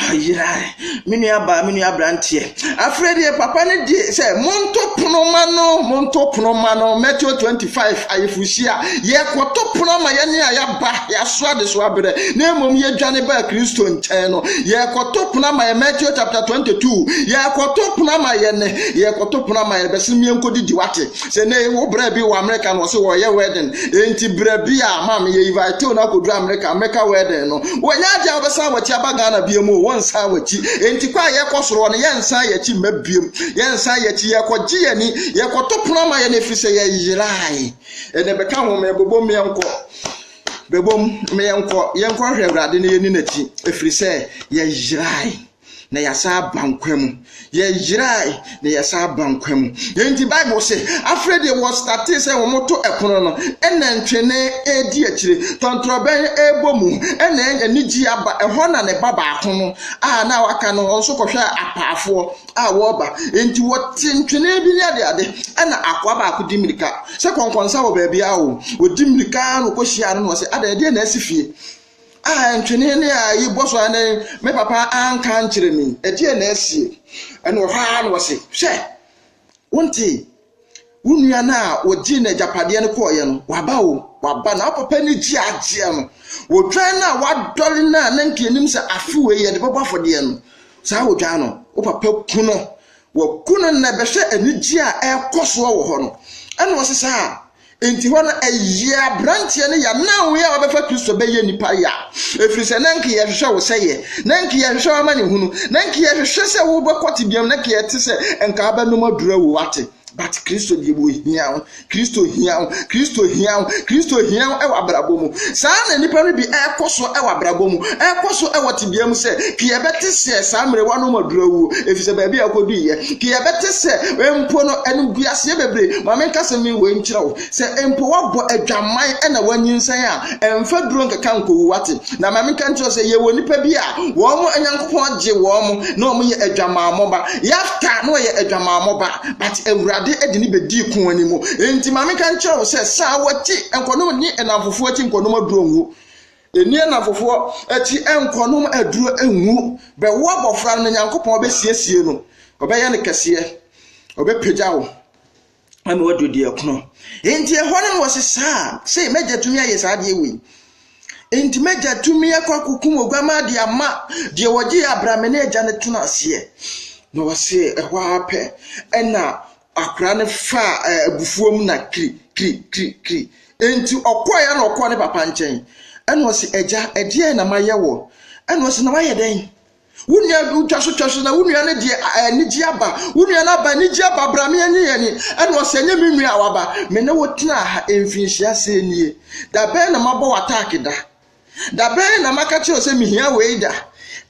Ayerae. Me nua baa, me nua aberanteɛ. Afei deɛ papa no di sɛ monto pono ma no, monto pono ma no. Matthew 25 ayefuhyia. Yɛkɔto pono ma yɛne a yɛaba, yɛaso adesoa berɛ, na mmom yɛdwane baa Kristo nkyɛn no. Yɛkɔto pono ma yɛ Matthew chapter 22. Yɛkɔto pono ma yɛne, yɛkɔto pono ma yɛne bɛsene mmiɛnkɔdidi wate. sɛ ne wo brɛ bi wɔ amerika no ɔse wɔyɛ wedding enti brɛ bi a ma meyɛ inviteo no akɔduru amerika amerika wedding no wɔnyɛ agye a wobɛsan wakyi aba ghana biom o wɔnsan wakyi enti kɔ a yɛkɔ soroɔ no yɛnsan yɛkyi mma biom yɛnsan yɛkyi yɛkɔgye yɛni yɛkɔto pono ama yɛne ɛfiri sɛ yɛyerae ɛne bɛka ho ma yɛbɛbɔ mmea nkɔ bɛbom yɛnkɔ yɛnkɔhwɛ awurade no yɛni n'akyi ɛfiri sɛ yɛyerae na yɛasan aba nkwa mu. Yɛyerae na yɛsan aba nkwa mu. Enti Bible se, afei deɛ wɔstartee sɛ wɔto ɛpono no, ɛna ntwene redi akyire, tɔntorɔbɛn rebɔ mu, ɛna anigye aba. Ɛhɔ na ne ba baako no a na waka no, wɔn nso kɔhwɛ apaafoɔ a wɔreba. Enti wɔte ntwene bi ne ade ade, ɛna akoa baako di mmirika sɛ kɔnkɔnsa wɔ baabi a o. Wɔdi mmirika na wɔkɔhyia no na wɔsɛ, adɛn, ɛdeɛ na asi fie? Ah, ntwene ne a yi bɔ so ara ne me papa anka nkyerɛ me, ɛdeɛ na asie. Ɛna ɔhɔ ara na ɔse, hwɛ, wontee, wo nua no a wɔgyee no agyapadeɛ no kɔɔeɛ no, waba o, waba. Na wo papa ani gye agyeɛ no, odwan no a wadɔre no a na nka anim sɛ afe wei yɛde bɛbɔ afɔdeɛ no, saa odwan no, wo papa ku no. Waku no nnɛ, bɛhwɛ anigyeɛ a ɛrekɔ soɔ wɔ hɔ no. Ɛna ɔse saa, Enti hɔ no, ɛyɛɛ aberanteɛ no ya na wo a wabɛfa Kristo bɛyɛ nipa ya, ɛfiri sɛ na nka yɛhwehwɛ wo sɛ yɛ, na nka yɛhwehwɛ w'amanehunu, na nka yɛhwehwɛ sɛ wobɛkɔ tebeam, na nka yɛte sɛ nka wobɛnom aduro awu, wate? But Kristo deɛ wɔhia wo, Kristo hia wo, Kristo hia wo, Kristo hia wo wɔ abrabɔ mu. Saa na nnipa no bi ɛrekɔ so wɔ abrabɔ mu, ɛrekɔ so wɔ tebea mu sɛ, ka yɛbɛte sɛ saa mmerɛ wanom aduro awuo, ɛfiri sɛ baabi a akɔduiɛ, ka yɛbɛte sɛ mpo no animguaseɛ bebree, Ma menka asɛm yi wei nkyerɛ wo, sɛ mpo woabɔ adwamman na woanyinsɛn a, mfa duro nkeka nkowu, woate? Na ma menka nkyerɛ wo sɛ yɛwɔ nnipa bi a wɔn Nyankopɔn gye wɔn na wɔyɛ adwamammɔ ba. Yefta, na ɔyɛ adwamammɔ ba, but Awurade de no bɛdii ko anim. Enti ma menka nkyerɛ wo sɛ, san w'akyi, nkɔnom nni nnamfofoɔ akyi, nkɔnom aduro ngu. Ɛnni anafofoɔ akyi nkɔ nom aduro ngu, bɛwo abɔfra no na Nyankopɔn bɛsiesie no, ɔbɛyɛ no kɛseɛ, ɔbɛpagya wo ama wadu deɛ ɛkono. Enti ɛhɔ no na wɔse saa, sei m'agya tumi ayɛ saa adeɛ wei. Enti m'agya tumi akɔ akɔkum oguamaa de ama deɛ wɔgye abramene agya no tena aseɛ. Na wɔse ɛhɔ ara pɛ ɛna Akwadaa no faa abufuo mu na kiri kiri kiri kiri. Enti ɔkɔɔ ya na ɔkɔɔ ne papa nkyɛn. Ɛna ɔsi ɛgya ɛdeɛ na ma yɛ wɔ. Ɛna ɔsi na wayɛ dɛn. Wo nua twa so twa so na wo nua no deɛ anigye aba. Wo nua no aba anigye aba bra me ɛnye yɛn ni. Ɛna ɔsi ɛnyɛ me nua a waba. Me ne wo tena ha mfinhyia sɛ nie. Da bɛn na ma bɔ wɔ ataaki da. Da bɛn na maka kyerɛ wo sɛ mehia wei da?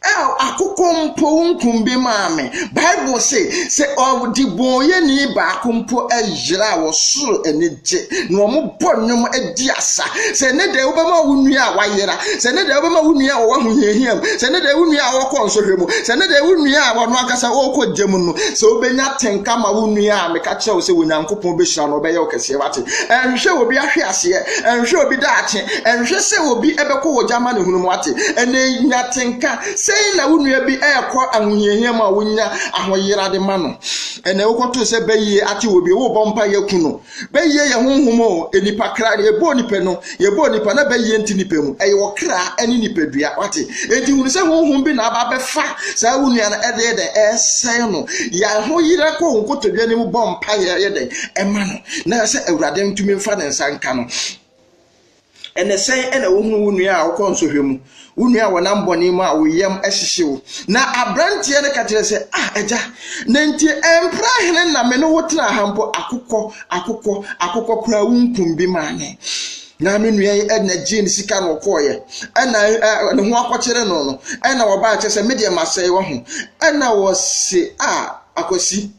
El, akokɔ mpo wo nkum bi maa me. Bible se, sɛ ɔdebɔnyɛni baako mpo yera a, ɔsoro ani gye, na wɔbɔ nnwom di asa. Sɛ ne dɛ wobɛma wo nua a wayera, sɛ ne dɛ wobɛma wo nua a ɔwɔ ahohiahia mu, sɛ ne dɛ wo nua a ɔkɔ nsɔhwɛ mu, sɛ ne dɛ wo nua a ɔno ankasa ɔkɔ gya mu no, sɛ wobɛnya tenka ma wo nua a, meka kyerɛ wo sɛ Onyankopɔn bɛhyira no, ɔbɛyɛ wo kɛseɛ, wate? Ɛnhwɛ obi ahwe aseɛ, ɛnhwɛ obi daakye, Ɛnhwɛ sɛ obi bɛkɔ wɔ gya amanehunu mu ate. Ɛnnɛ yi, nya atenka. Sɛn na wo nua bi rekɔ ahohiahia mu a wunya ahoyerade ma no? Ɛnnɛ, wokɔtoo sɛ bɛyɛ ate wɔ bi, wobɔ mpaeɛ ku no. Bɛyɛ yɛ honhom o, nnipa kra. Deɛ ɛbɔɔ nnipa no, yɛbɔɔ nnipa, na bɛyɛ nte nnipa mu. Ɛyɛ ɔkra ne nipadua. Wate? Enti hunu sɛ honhom bi na aba abɛfa saa wo nua no de yɛ dɛn? Ɛresɛe no. Yɛ ahoyera kɔ wo nkotodwe anim bɔ mpaeɛ yɛ dɛn? Ɛma no, na sɛ Awurade ntumi mfa ne nsa nka no. Ɛnna sɛn na wohunu wo nua a ɔkɔ nsɔhwɛ mu, wo nua a ɔnam bɔne mu a wo yam hyehye wo? Na aberanteɛ no ka kyerɛɛ sɛ, Ah, agya, na enti ɛmpra hene na me ne wo tenaa ha mpo, akokɔ, akokɔ, akokɔ koraa wunkum bi maa me. Na me nua yi ɛnna gyee ne sika na ɔkɔɔeɛ, ɛnna ne ho akɔkyere no no, ɛnna ɔbaa kyɛ sɛ me deɛ masɛe wɔ ho. Ɛnna wɔse, Ah, akwasi.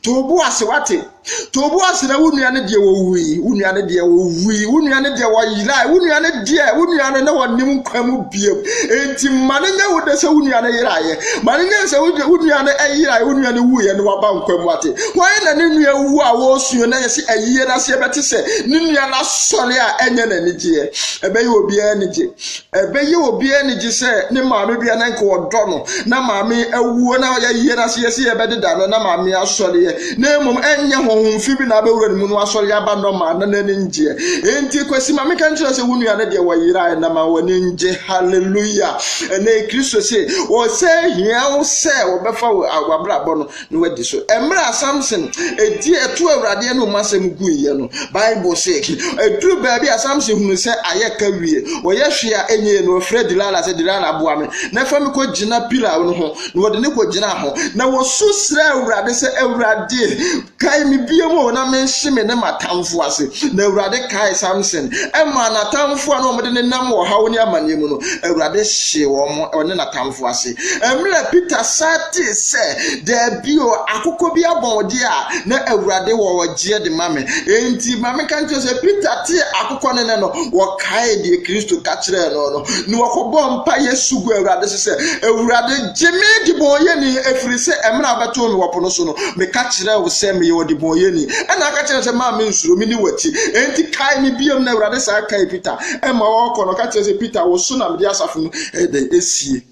To wo bo ase wate. To wo bo ase na wo nua no deɛ wɔwui, wo nua no deɛ wɔwui, wo nua no deɛ wɔyerae, wo nua no deɛ wo nua no na wɔnim nkwa mu biam. Enti ma no nyɛ wo dɛ sɛ wo nua no yeraeɛ. Ma no nyɛ sɛ wo nua no yeraeɛ, wo nua no wuiɛ na waba nkwa mu ate. Wɔn na ne nua wu a wɔresuo na yɛsi ayie no aseɛ bɛte sɛ ne nua no asɔre a ɛnyɛ n'anigyeɛ. Ɛbɛyɛ obiara anigye. Ɛbɛyɛ obiara anigye sɛ ne maame bea na nka ɔdɔ no na maame awuo na ɔyɛ yie na sɛ yɛsi yɛbɛdeda no na maame asɔreɛ na mmom ɛnyɛ honhom fi bi na abɛwura ne mu no asɔre aba nɔma na n'ani ngyeɛ enti kwasi ma meka nkyerɛ sɛ wo nua no deɛ wɔyerae na ma w'ani ngye hallelujah ɛnɛ kristo se wɔsɛ hia wo sɛ wɔbɛfa w'abrabɔ no na wadi so. Mmerɛ a Samson di ɛto Awurade anom asɛm guiɛ no, Bible se, ɛduru baabi a Samson hunu sɛ ayɛ ka wie, ɔyɛ hwee a ɛnyɛ yie, na ɔfrɛ Delila sɛ, Delila boa me na fa me kɔgyina pila no ho, na wɔde no kɔgyinaa ho, na ɔsu srɛɛ Awurade sɛ, Awurade, kae me biom o, na menhye me ne m'atamfo ase. Na Awurade kae Samson maa n'atamfo a na wɔde ne nam ɔhaw ne amaneɛ mu no, Awurade hyee wɔn, ɔne n'atamfo ase. Mmerɛ Peter san tee sɛ, Daabi o, akokɔ bi abɔ wo deɛ a, na Awurade wɔ ɔgyeɛ de ma me. Enti ma menka nkyerɛ wo sɛ, Peter tee akokɔ no nne no, ɔkaee deɛ Kristo ka kyerɛɛ no no, na ɔkɔbɔɔ mpaeɛ su guu Awurade so sɛ, Awurade, gye me debɔneyɛni, ɛfiri sɛ mmerɛ a wobɛtoo me wɔ po no so no, meka kyerɛɛ wo sɛ meyɛ ɔdebɔneyɛni, ɛnna woka kyerɛɛ me sɛ, Mma mensuro, medi w'akyi, enti kae me bio. Na Awurade san kaee Peter, ɛnna ɔrekɔ no, ɔka kyerɛɛ sɛ, Peter, wo so na mede asafo no Ɛdɛn esie?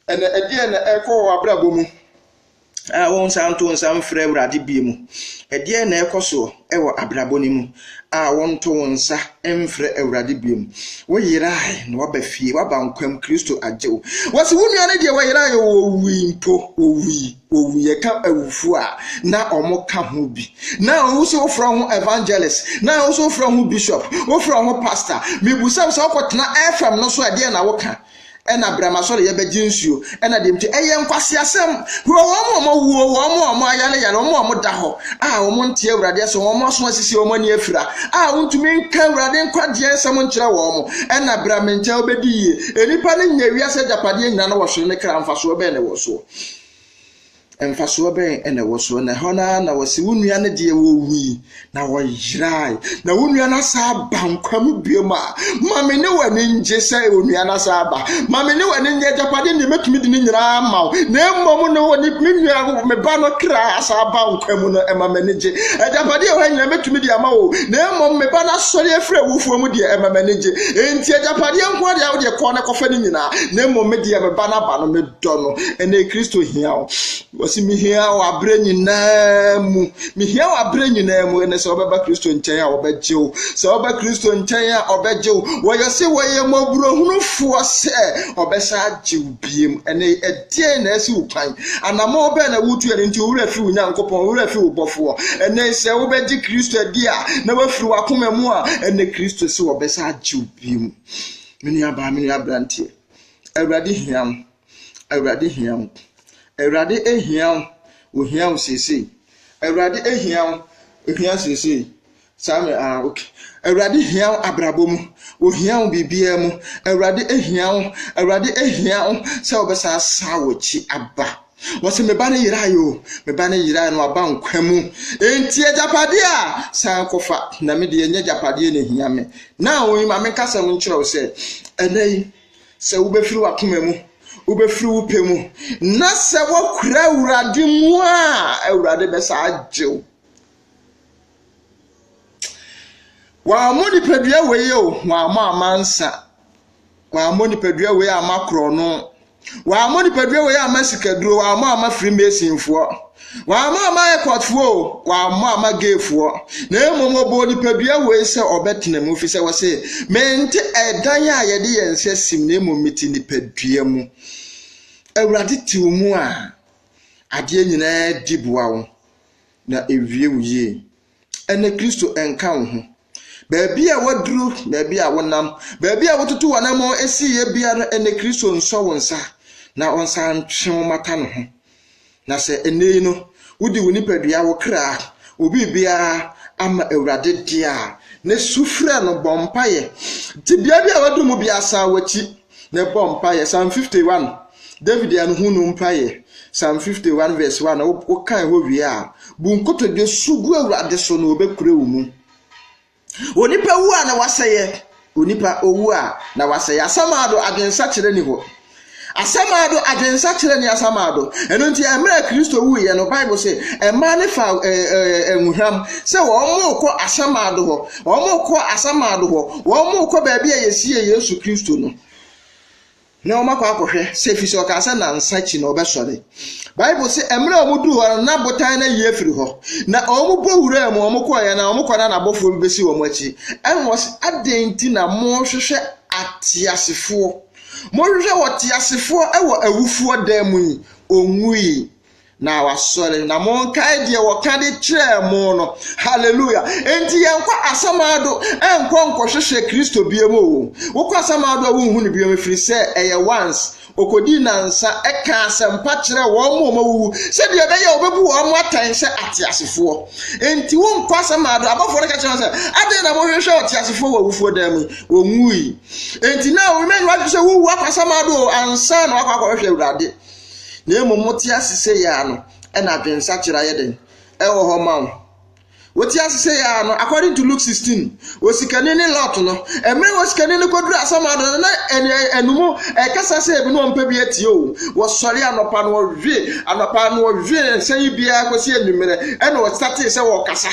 Ɛnna ɛdeɛn na ɛrekɔ wɔ w'abrabɔ mu a wonsan nto nsa mfrɛ Awurade bio mu? Ɛdeɛn na ɛrekɔ soɔ wɔ abrabɔ no mu a wonto wo nsa mfrɛ Awurade bio mu? Woyerae na waba fie, waba nkwam, Kristo agye wo. Wɔsi wo nua no deɛ wɔyerae o, owui mpo, owui. Wɔwu yɛka awufoɔ a na wɔn ka ho bi na wo sɛ wofrɛ ho evangelist na wo sɛ wofrɛ ho bishop wofrɛ ho pastor mebusam sɛ wokɔtena fm no so ɛdeɛ na woka ɛna brɛma sɔre yɛbɛgye nsuo ɛna deɛ mti ɛyɛ nkwaseasɛm hwɛ wɔn a wɔn wuo wɔn a wɔn ayare yare wɔn a wɔn da hɔ a wɔn nte awurade ɛsɛ wɔn aso asisi wɔn ani afira a wontumi nka awurade nkwagyeɛ nsɛm nkyerɛ wɔn ɛna brɛma nkyɛn wobɛdi yie nnipa no nyɛ wiase agyapadeɛ nyina no wɔhwere ne kra mfasoɔ bɛn ne wɔ soɔ Mfasoɔ bɛn na ɛwɔ so? Na ɛhɔ no ara na wɔse wo nua no deɛ wɔwui na wɔyerae, na wo nua no asan aba nkwa mu biom a, ma me ne w'ani ngye sɛ onua no asan aba. Ma me ne w'ani ngye agyapadeɛ deɛ mɛtumi de ne nyinaa ama wo, na mmom no wɔ ne me nua me ba no kra asan aba nkwa mu no, ɛma m'ani gye. Agyapadeɛ ɛwɔ ha nyinaa mɛtumi de ama wo, na mmom me ba no asɔre afiri awufoɔ mu deɛ ɛma m'ani gye. Enti agyapadeɛ nko ara deɛ wodeɛ kɔɔ no kɔfa ne nyinaa, na mmom me deɛ me ba no aba no, me dɔ no ɛnɛ kristo hia wo wɔsi mehia wo aberɛ nyinaa mu mehia wo aberɛ nyinaa mu ɛnɛ sɛ wɔbɛba kristo nkyɛn a wɔbɛgye wo sɛ wɔba kristo nkyɛn a ɔbɛgye wo wɔyɛ se wɔyɛ mmɔborɔhunufoɔ sɛ ɔbɛsa agye wo biem ɛnɛ ɛdeɛn na asi wo kwan anamɔ bɛɛ na wotu ɛno nti wowura firi wo nyankopɔn wowura firi wo bɔfoɔ ɛnɛ sɛ wobɛgye kristo adi a na wafiri wakoma mu a ɛnɛ kristo sɛ wɔbɛsa agye wo biem me nuabaa me nuabranteɛ Awurade hia wo. Awurade hia wo. Awurade hia wo. Ohia wo seesei. Awurade hia wo. Ohia seesei. Saa me ah okay. Awurade hia wo abrabɔ mu. Ohia wo biribiara mu. Awurade hia wo. Awurade hia wo sɛ wɔbɛsan asan w'akyi aba. Wɔse me ba no yerae o, me ba no yerae no aba nkwa mu. Enti agyapadeɛ a san kɔfa na me deɛ nyɛ agyapadeɛ na hia me. Na wɔn ma me nkasɛm nkyerɛ wo sɛ ɛnɛ yi sɛ wobɛfiri w'akoma mu, wobɛfiri wo pɛ mu na sɛ wɔkura awurade mu a awurade bɛsa agye wo. Wɔammɔ nipadua wei o, wɔammɔ amansa. Wammɔ nipadua wei amma korɔno. Wammɔ nipadua wei amma sikaduro. Wammɔ amma freemasonfoɔ. Wammɔ amma airportfoɔ o. Wammɔ amma gayfoɔ. Na mmom ɔbɔɔ nipadua wei sɛ ɔbɛtena mu fi sɛ wɔse mente ɛdan a yɛde yɛn nsa sim na mmom mete nipadua mu. Awurade te wo mu a adeɛ nyinaa di boa wo na ewie wo yie. Ɛnɛ Kristo nka wo ho. Baabi a woaduru, baabi a wonam, baabi a wotutu w'anammɔn esiiɛ biara ɛnɛ Kristo nsɔ wo nsa na ɔnsa ntwe wo mata ne ho. Na sɛ ɛnɛ yi no wode wo nipadua, wo kra, wo biribiara ama Awurade deɛ a, na su frɛ no, bɔ mpaeɛ. Tebea bi a woaduru mu biara san w'akyi. na ɛbɔ mpaeɛ. Psalm 51, David yɛ ne ho nu mpaeɛ. Psalm 51 verse 1, wokan hɔ wie a, bu nkotodwe su gu Awurade so na ɔbɛkura wo mu. Onipa wu a na wasɛeɛ, onipa owu a na wasɛeɛ. Asamaado adwensakyerɛ ni hɔ. Asamaado adwensakyerɛ ni asamaado. Ɛno nti, mmerɛ a Kristo wuiɛ no, Bible sɛ, mmaa ne fa eh, eh, eh, nwohwam sɛ wɔn kɔ asamaado hɔ. Wɔkɔ asamando hɔ, wɔkɔ baabi a yɛsiee Yesu Kristo no, na wɔakɔ akɔhwɛ sɛ ɛfiri sɛ ɔkaa sɛ nansa akyi na ɔbɛsɔre. Bible sɛ mmerɛ a wɔduu hɔ no, na botan no ayi afiri hɔ, na wɔbɔ wuraa mu, wɔkɔeɛ na wɔkɔ na n'abɔfoɔ bi bɛsi wɔn akyi. Ɛna ɔse, adɛn nti na mohwehwɛ ateasefoɔ? Mohwehwɛ ɔteasefoɔ wɔ awufoɔ dan mu yi, ɔnwuui. na wasɔre na monkae deɛ wɔka de kyerɛɛ mo no hallelujah enti yɛnkɔ asamado ɛnkɔ nkɔhwehwɛ kristo biam o wokɔ asamado a wonhu no biam ɛfiri sɛ ɛyɛ once ɔkɔdi nansa ɛka asɛmpa kyerɛ wɔn mu ɔma wuwu sɛdeɛ ɛbɛyɛ wɔbɛbu wɔn mu atɛn sɛ ateasefoɔ enti wonkɔ asamado abɔfoɔ no ka kyerɛ sɛ adɛn na mohwehwɛ ɔteasefoɔ wɔ awufoɔ dan mu wɔwui enti na remain wadwe sɛ wowu akɔ asamado ansa na wakɔ akɔhwehwɛ awurade Na mmom mote ase sei ara no, ɛna adwensakyera ayɛ dɛn? Ɛwɔ hɔ ma wo. Wote ase sei ara no, according to Luke 16, osikani ne Lot no, mmerɛ osikani no kɔduru asamado no, na ɛnum ɛkasa sɛ ebi na ɔmpɛ bi atie o. Wɔsɔre anɔpa no ɔwe, anɔpa no ɔwe nsa yi biara kɔsi anwummerɛ, ɛna ɔsatee sɛ wɔkasa.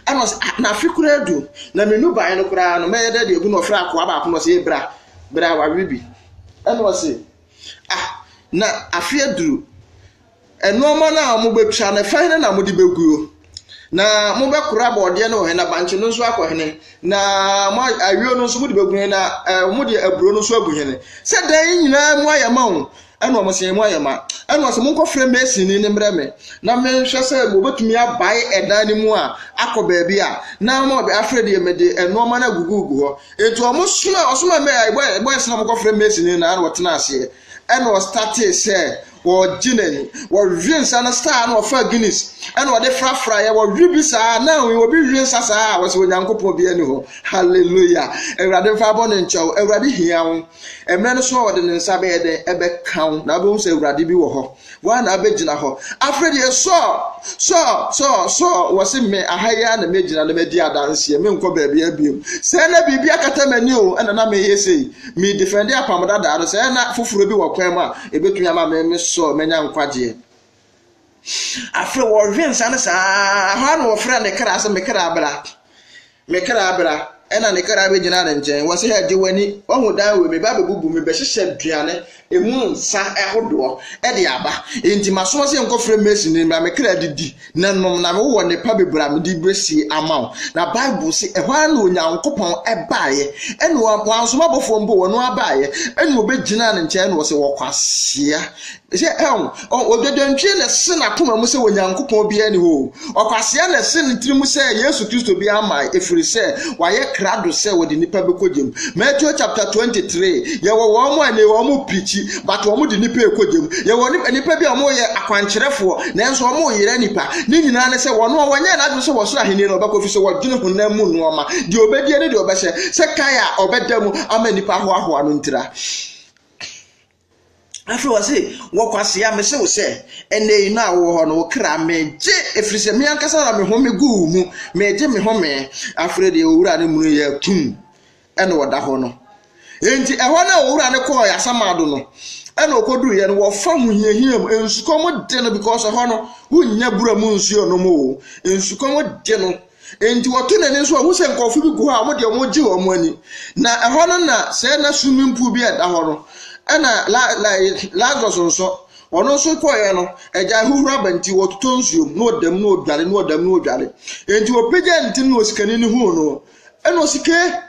Ɛna ɔsɛ, ah, na afe koraa du, na me nuban no koraa no, mɛyɛ dɛ deɛ gu na ɔfrɛ akoa baako na ɔsɛ, yɛ bra, bra wawe bi. Ɛna ɔsɛ, Ah, na afe aduru. Nnoɔma no a wɔbɛtwa no, fa hene na mode bɛguo? Na mobɛkora bɔɔdeɛ no wɔ he? Na bankye no nso akɔ hene? Na mo ayuo no nso mode bɛgu he? Na eh, mode aburo no nso agu hene? Sɛ dan nyinaa mu ayɛ ma wo. Ɛna wɔn sɛ mu ayɛ ma. Ɛna wɔn sɛ monkɔfrɛ masini no mmerɛ me na menhwɛ sɛ wɔbɛtumi abae ɛdan no mu a akɔ baabi a na wɔn afrɛ deɛ mede nnoɔma no agugugu hɔ. Enti ɔmo soma ɔsoma bɔyɛs na ɔmo kɔ frɛ mesi ne na ɔtena aseɛ ɛna ɔstate sɛ ɔgye na ni ɔhwe nsa no saa na ɔfa guinness ɛna ɔde frafra yɛ ɔhwe bi saa na obi hwe nsa saa a wɔsɛ onyankopɔn bi ani hɔ hallelujah awurade mfa bɔ ne nkyɛw awurade hia wo mmerɛ no so a ɔde ne nsa bɛyɛ dɛn ɛbɛka wo na wobɛhu sɛ awurade bi wɔ hɔ Woa na abɛgyina hɔ afrɛ deɛ Saul, Saul, Saul, Saul, wɔ se me aha yi ara na mɛgyina na madi adanseɛ, menkɔ baabi abiam. Sɛ na biribi akata m'ani o, ɛna na meyɛ sei, me defɛnde apam dadaa no, sɛ na foforɔ bi wɔ kwan mu a, ɛbɛtumi ama me me Saul manya nkwagyeɛ. Afei wɔhwe nsa no saa, hɔ a na wɔfrɛ ne kra sɛ me kra bra. Me kra bra, ɛnna ne kra bɛgyinaa ne nkyɛn. Wɔse, Hɛ, gye w'ani, woahu dan wei, meba abɛbubu, mebɛhyehyɛ aduane ɛmu nsa ahodoɔ de aba, enti masoma sɛ nkɔfrɛ Mason no mmra, me kra de di na nom, na mewɔ nnepa bebree a mede bɛsie ama wo. Na Bible se, ɛhɔ ara na Onyankopɔn baeɛ, ɛnna wansoma abɔfoɔ mpo, ɔno ara baeɛ, ɛnna wɔbɛgyinaa ne nkyɛn na ɔse, Ɔkwasea, Hwɛ, ɛho, ɔn, odwadwantwie na ɛsen n'akoma mu sɛ Onyankopɔn biara nni hɔ o, ɔkwasea na ɛsen ne tiri mu sɛ Yesu Kristo biara mmae, efirisɛ wayɛ krado sɛ wɔde nnipa bɛkɔ gya mu. Matthew chapter 23, Yɛwɔ wɔn a ɛnnɛ wɔn reprikyi, but wɔn de nnipa rekɔ gya mu. Yɛwɔ nip, nnipa bi a wɔn yɛ akwankyerɛfoɔ, nanso wɔn reyera nnipa. Ne nyinaa ne sɛ wɔn a wɔnyɛɛ n'adwene sɛ wɔ soro ahennie no wɔbɛkɔ, efisɛ wɔdwene honam mu nnoɔma, deɛ ɔbɛdie ne deɛ ɔbɛhyɛ, sɛ kae a ɔbɛda mu ama nnipa ahoahoa no ntira. Afei ɔse, wɔ kwasea, mese wo sɛ, ɛnnɛ yi no a wowɔ hɔ no, wo kra megye, ɛfiri sɛ me ankasa na mehome guu wo mu, megye me home. Afei deɛ owura no munu yɛ tum, ɛna ɔda hɔ no. Enti ɛhɔ no a owura no kɔɔ Asamado no, ɛna ɔkɔduruiɛ no, wɔfa ho hiahia mu, nsukɔm de no because ɛhɔ no, wonnya bura mu nsuo nom o, nsukɔm de no, Enti wɔto n'ani nso a, ohu sɛ nkurɔfo bi gu hɔ a wɔn deɛ wɔregye wɔn ani. Na ɛhɔ no na sɛɛ na swimming pool bi a ɛda hɔ no, ɛna la la Lazarus nso, ɔno nso kɔeɛ no, agya ahuhuro aba nti wɔtotɔ nsuo mu na ɔdam na ɔdware na ɔdam na ɔdware. Enti wɔpagya ne ti no na osikani no huu no, ɛna ɔsi ke.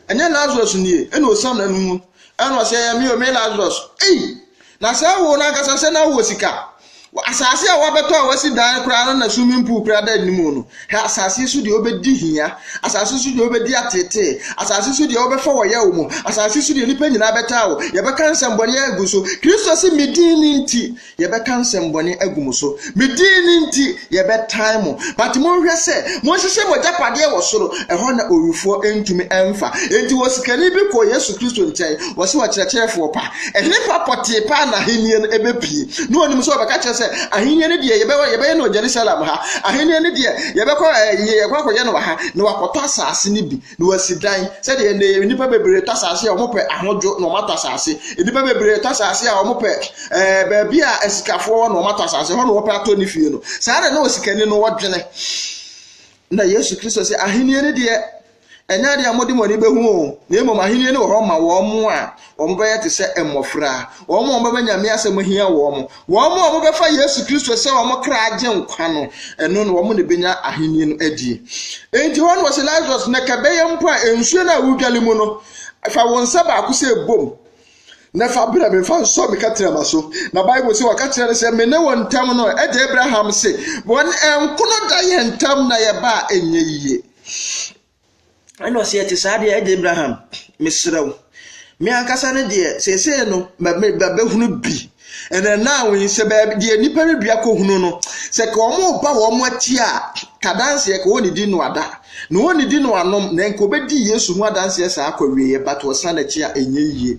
Ɛnyɛ Lazarus nie, ɛna ɔsiam na no mu, ɛna ɔsɛ ɛyɛ me o, me Lazarus. Ei! Na sɛ ɛwɔ no ankasa sɛ na wɔ sika. Asase a wabɛtɔ a wasi dan koraa no na swimming pool koraa da anim no. Hɛ asase so deɛ wobɛdi hia, asase so deɛ wobɛdi ateetee, asase so deɛ wobɛfa wɔ yaw mu, asase so deɛ nnipa nyinaa bɛtaa wo, yɛbɛka nsɛmbɔne agu so. Kristo se, me din no nti, Yɛbɛka nsɛmbɔne agu mo so. Me din no nti, yɛbɛtan mo. But monhwɛ sɛ monhyehyɛ mo agyapadeɛ wɔ soro, ɛhɔ na owifoɔ ntumi mfa. Enti osikani bi kɔɔ Yesu Kristo nkyɛn, ɔse, Ɔkyerɛkyerɛfoɔ pa, henefa pɔtee paa na ahennie no bɛpue? Na onim sɛ ɔbɛka kyerɛ sɛ, Ahennie no deɛ yɛbɛwɔ, yɛbɛyɛ no wɔ Jerusalem ha. Ahennie no deɛ yɛbɛkɔ, yɛkɔ akɔyɛ no wɔ ha, na wakɔtɔ asaase no bi. na wasi dan sɛdeɛ nnɛ yɛ nnipa bebree tɔ asase a wɔpɛ ahodwo na wɔatɔ asase nnipa bebree tɔ asase a wɔpɛ ɛɛ baabi a asikafoɔ wɔ na wɔatɔ asase hɔ na wɔpɛ atɔ ne fie no saa na na osikani no wɔdwene na yesu kristo sɛ ahenni no deɛ ɛnyɛ adeɛ a wɔde wɔn ani bɛhu o na mmom ahenni no wɔ hɔ ma wɔn a Wɔbɛyɛ te sɛ mmofra. Wɔn a wɔbɛba Nyame asɛm mu hia wɔn. Wɔn a wɔbɛfa Yesu Kristo sɛ wɔn kra agye nkwa no, ɛno na wɔn na ebenya ahenni no adi. Enti hɔ na wɔsi Lazarus na kɛbɛyɛ mpo a nsuo no a wodwale mu no, fa wo nsa baako sɛ bom na fa brɛ me fa nsɔ me katrama so. Na Bible sɛ wɔka kyerɛ no sɛ, me ne wo ntam no, agya Abraham se, wɔn nkono da yɛn ntam na yɛba a ɛnyɛ yie. Ɛna ɔse ɛte saa deɛ ɛde Abraham mesrɛ wo me ankasa no deɛ seesei no mabɛhunu bi ɛna naa wo yi sɛ baabi deɛ nnipa no dua kɔhunu no sɛ ka wɔn ba wɔn akyi a ka danseɛ ka wɔn di no ada na wɔn di no anom na nka wɔbɛdi Yesu ho adanseɛ saa akɔ wieɛ but wɔsan akyi a ɛnyɛ yie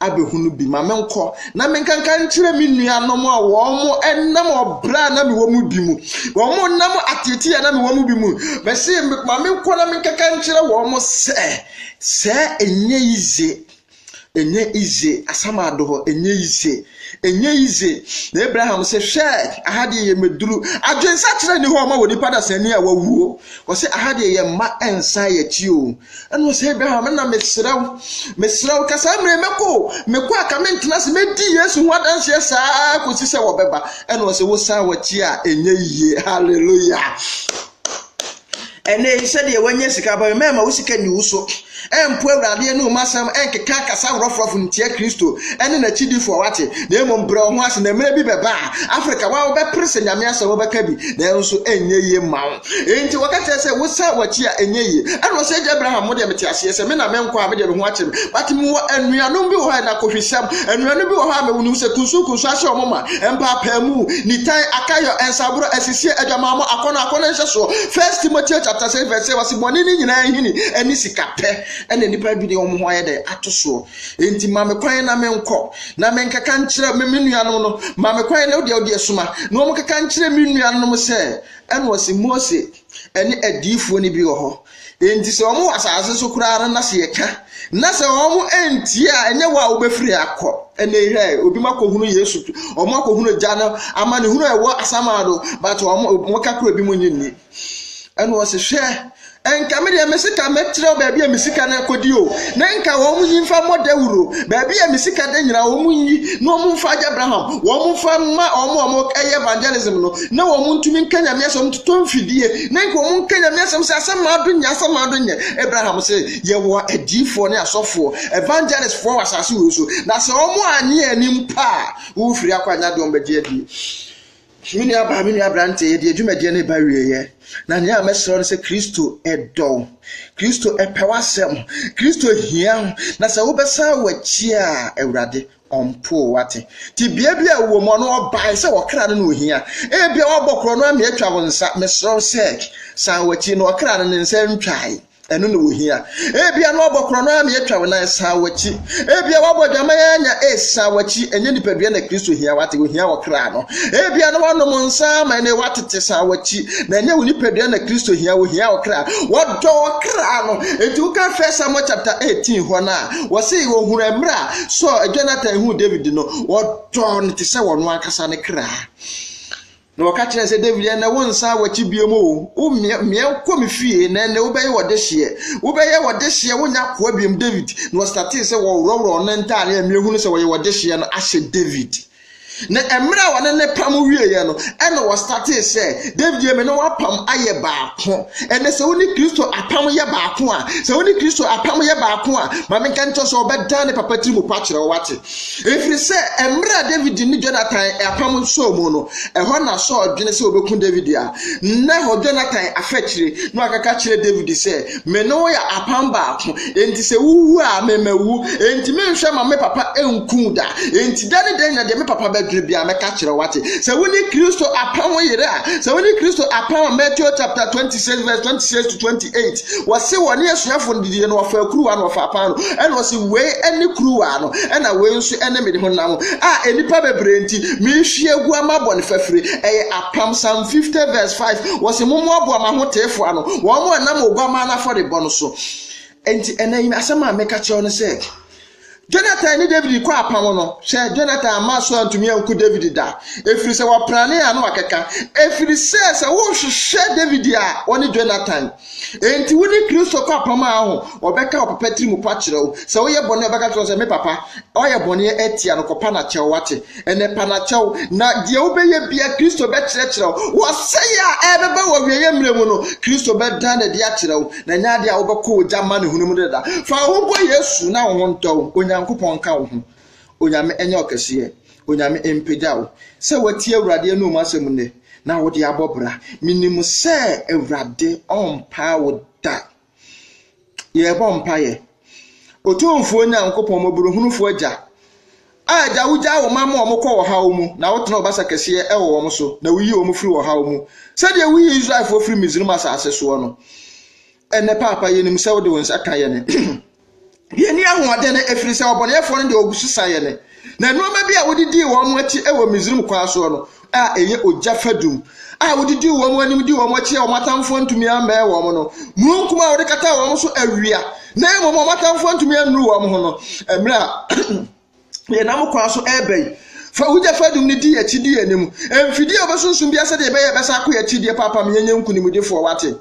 abɛhunu bi ma menkɔ na menkanka nkyerɛ me nuanom a wɔn nam ɔbrɛ a na mewɔ mu bi mu wɔn nam ateetee a na mewɔ mu bi mu mɛse ma menkɔ na menkanka nkyerɛ wɔn sɛ sɛ ɛnyɛ yize ɛnyɛ yize asamado hɔ ɛnyɛ yize ɛnyɛ yize na abraham sɛ hwɛ aha deɛ yɛ mɛduru adwensakyerɛ ni hɔ ɔma wɔ nipa dasani a wawuo wɔsɛ aha deɛ yɛ mma ɛnsan yɛkyi o Ɛna ɔsɛ Abraham na mesrɛ wo, mesrɛ wo, ka saa mmerɛ mɛkɔ o, mekɔ a ka mentena ase, mɛdi Yesu ho adanseɛ saa kɔsi sɛ wɔbɛba. Ɛna ɔsɛ wosan wɔkyi a ɛnyɛ yie. Hallelujah. ɛnɛ yi sɛdeɛ wanya sika aba mɛ ma wo sika nni wo so ɛmpo awurade ne ɔma asɛm ɛnkeka akasa worɔforɔfo ntia kristo ɛne n'akyidifoɔ wate na mmom brɛ wo ho ase na mmerɛ bi bɛba a afrika wa wobɛpere sɛ nyame asɛm wobɛka bi nanso ɛnyɛ yie ma wo Enti wɔka kyerɛɛ sɛ, Wosan w'akyi a, ɛnyɛ yie. Ɛnna ɔsɛ, Agya Abraham, mo deɛ mete aseɛ sɛ me na menkɔ a, me deɛ me ho akyere me. But mewɔ anuanom bi wɔ hɔ a, ɛna kohwisɛm, anuanom bi wɔ hɔ a, mewɔ nim sɛ kunsunkunsu ahyɛ wɔn ma, mpaapaemu, nitan, akayɔ, nsaborɔ, asisie, adwamammɔ, akɔnnɔ, akɔnnɔ nhyɛsoɔ. First Timoteo chapter 6 verse 6, wɔse, Bɔne no nyinaa nhini ne sikapɛ na nnipa adwene wɔn ho ayɛ dɛn ato soɔ. Enti ma me kwan na menkɔ na menkɛka nkyerɛ me nuanom no, ma me kwan na wodeɛ wodeɛ soma na wɔnkɛka nkyerɛ me nuanom sɛ, Ɛna ɔse Mose ɛne adiyifoɔ no bi wɔ hɔ. Enti sɛ wɔn wɔ asase so koraa no na sɛ yɛka na sɛ wɔn antie a ɛnyɛ wɔ a wobɛfiri akɔ. Ɛna ehwɛ obi ma kɔhunu Yesu, wɔn akɔhunu gya no amanehunu a ɛwɔ asamado, but wɔn wɔka kora bi mu nye nni. Ɛna ɔse hwɛ Anka me deɛ me sika mɛkyerɛ wo baabi a me sika no akɔdi o na nka wɔn nyi mfa mmɔ dawuro baabi a me sika da nyinaa wɔn nyi na wɔn mfa agya Abraham wɔn mfa mma wɔn a wɔn ɛyɛ evangelism no na wɔn ntumi nka nyame asɛm wɔn totɔ mfidie na nka wɔn nka nyame asɛm sɛ asɛm maa do nyɛ asɛm maa do nyɛ Abraham sɛ yɛwɔ adiifoɔ ne asɔfoɔ evangelistfoɔ wɔ asase wei so na sɛ wɔn anyɛ anim pa a wɔfiri akɔ anya deɛ wɔn bɛgye adie Me nuabaa, me nua aberanteɛ, yɛde yɛn dwumadie no reba awieeɛ, na nea mɛsrɛ no sɛ Kristo dɔ wo, Kristo pɛ w'asɛm, Kristo hia wo, na sɛ wobɛsan w'akyi a, Awurade ɔmpoo wate. Tebea bi a wɔ mu ɔno ɔbae sɛ ɔkra no na ohia. Ebia wabɔ korɔ no ama atwa wo nsa. Mesrɛ wo sɛ, san w'akyi na ɔkra no ne nsa ntwae. Ɛno na ohia. Ebia na ɔbɔ korɔno ara na atwa wo nan san w'akyi. Ebia wabɔ adwaman ara anya AIDS san w'akyi. Ɛnyɛ nipadua na Kristo hia wate, ohia wɔ kra no. Ebia na wanom nsa ama ɛnɛ watete san w'akyi. Na ɛnyɛ wo nipadua na Kristo hia, ohia wɔ kra. Wɔdɔ wɔ kra no. Enti woka First Samuel chapter 18 hɔ no a, wɔse wɔhunu mmerɛ a Saul, Jonathan huu David no, wɔdɔɔ no te sɛ wɔn ankasa ne kra. Na wɔka kyerɛɛ sɛ, Dawid, ɛnnɛ wonsan w'akyi biom o, womeɛ kɔ me fie, na ɛnnɛ wobɛyɛ ɔdehyeɛ. Wobɛyɛ ɔdehyeɛ, wonyɛ akoa biom, Dawid. Na wɔstartee sɛ wɔworɔworɔ ɔno ntadeɛ a meahunu sɛ wɔyɛ ɔdehyeɛ no ahyɛ Dawid. Na mmerɛ a wɔne ne pam wieeɛ no, ɛna wɔstartee sɛ, Dawid, me ne wo apam ayɛ baako. Ɛnɛ sɛ wo ne Kristo apam yɛ baako a, sɛ wo ne Kristo apam yɛ baako a, ma menka nkyerɛ sɛ ɔbɛdan ne papa tiri mu pa kyerɛ wo, wate? Ɛfiri sɛ mmerɛ a Dawid ne Jonathan apam nsɔɔ mu no, ɛhɔ na Saul dwene sɛ ɔbɛku Dawid a, na ɛhɔ Jonathan afa akyire, na wakeka kyerɛ Dawid sɛ, Me ne wo yɛ apam baako, enti sɛ wowu a, me mawu, enti menhwɛ ma me papa nku wo da, enti da ne da nyina deɛ me papa bɛdwene biara mɛka kyerɛ wo, wate? Sɛ wo ne Kristo apam yere a, sɛ wo ne Kristo apam a, Matthew chapter 26 verse 26 to 20. eight wɔsi wɔn ne asuafo no didie no wɔfa kuruwa no wɔfa paano ɛna wɔsi wei ɛne kuruwa no ɛna wei nso ɛne mede ho nam a nipa bebree nti mehwie egu ama bɔ ne fafiri ɛyɛ apam psalm fifty verse five wɔsi mo mo aboa ma ho teefo ano wɔn mo ɛnam oguama n'afɔrebɔ no so nti ɛnna yi asɛm a meka kyerɛw no sɛ Jonathan ne Dawid kɔɔ apam no, hwɛ, Jonathan amma so antumi anku Dawid da, ɛfiri sɛ wɔpranee a na wakeka, ɛfiri sɛ sɛ worehwehwɛ Dawid a, ɔne Jonathan. Enti wo ne Kristo kɔ apam a, ho, ɔbɛka wo papa tiri mu pa kyerɛ wo, sɛ woyɛ bɔne a, ɔbɛka kyerɛ wo sɛ, Me papa, woayɛ bɔne atia no, kɔpa no akyɛ wo, woate? Ɛnɛ pa na kyɛw, na deɛ wobɛyɛ bia Kristo bɛkyerɛkyerɛ wo. W'ɔsɛeɛ a ɛrebɛba wɔ awieeɛ mmerɛ mu no, Kristo bɛdan no adi akyerɛ wo, na ɛnyɛ adeɛ a wobɛkɔ ogya amanehunu mu dada. Fa wo ho bɔ Yesu na wo ho ntɔ wo. Onyankopɔn nka wo ho. Onyame nyɛ ɔkɛseɛ. Onyame mpagya wo. Sɛ woatie Awurade anum asɛm nnɛ, na wode abɔ bra, menim sɛ Awurade ɔmpaa wo da. Yɛrebɔ mpaeɛ. Otumfoɔ Nyankopɔn, mmɔborɔhunufoɔ Agya, a Agya wogyaa wo man ma wɔkɔ ɔhaw mu, na wotena wo basa kɛseɛ wɔ wɔn so, na woyi wɔn firi ɔhaw mu, sɛdeɛ woyi Israelfoɔ firi Misraim asase soɔ no. Ɛnnɛ, Paapa, yɛnim sɛ wode wo nsa ka yɛn. Yenni ahoɔden ɛfiri sɛ ɔbɔneyɛfoɔ no deɛ ɔgu so sa yɛn, na nnoɔma bi a wode dii wɔn akyi wɔ Misrim kwan soɔ no a ɛyɛ ogya fadum a wode dii wɔn anim dii wɔn akyi a wɔn atamfoɔ antumi ammɛn wɔn no, mununkum a wode kataa wɔn so awia na mmom wɔn atamfoɔ antumi annuru wɔn ho no, mmerɛ a yɛnam kwan so reba yi. Fa wo gya fadum no di yɛn akyi, di yɛn anim. Mfidie a wɔbɛsunsum biara sɛdeɛ ɛbɛyɛ yɛbɛsan akɔ yɛn akyi deɛ papa ma yɛnyɛ nkonimdifoɔ, wate?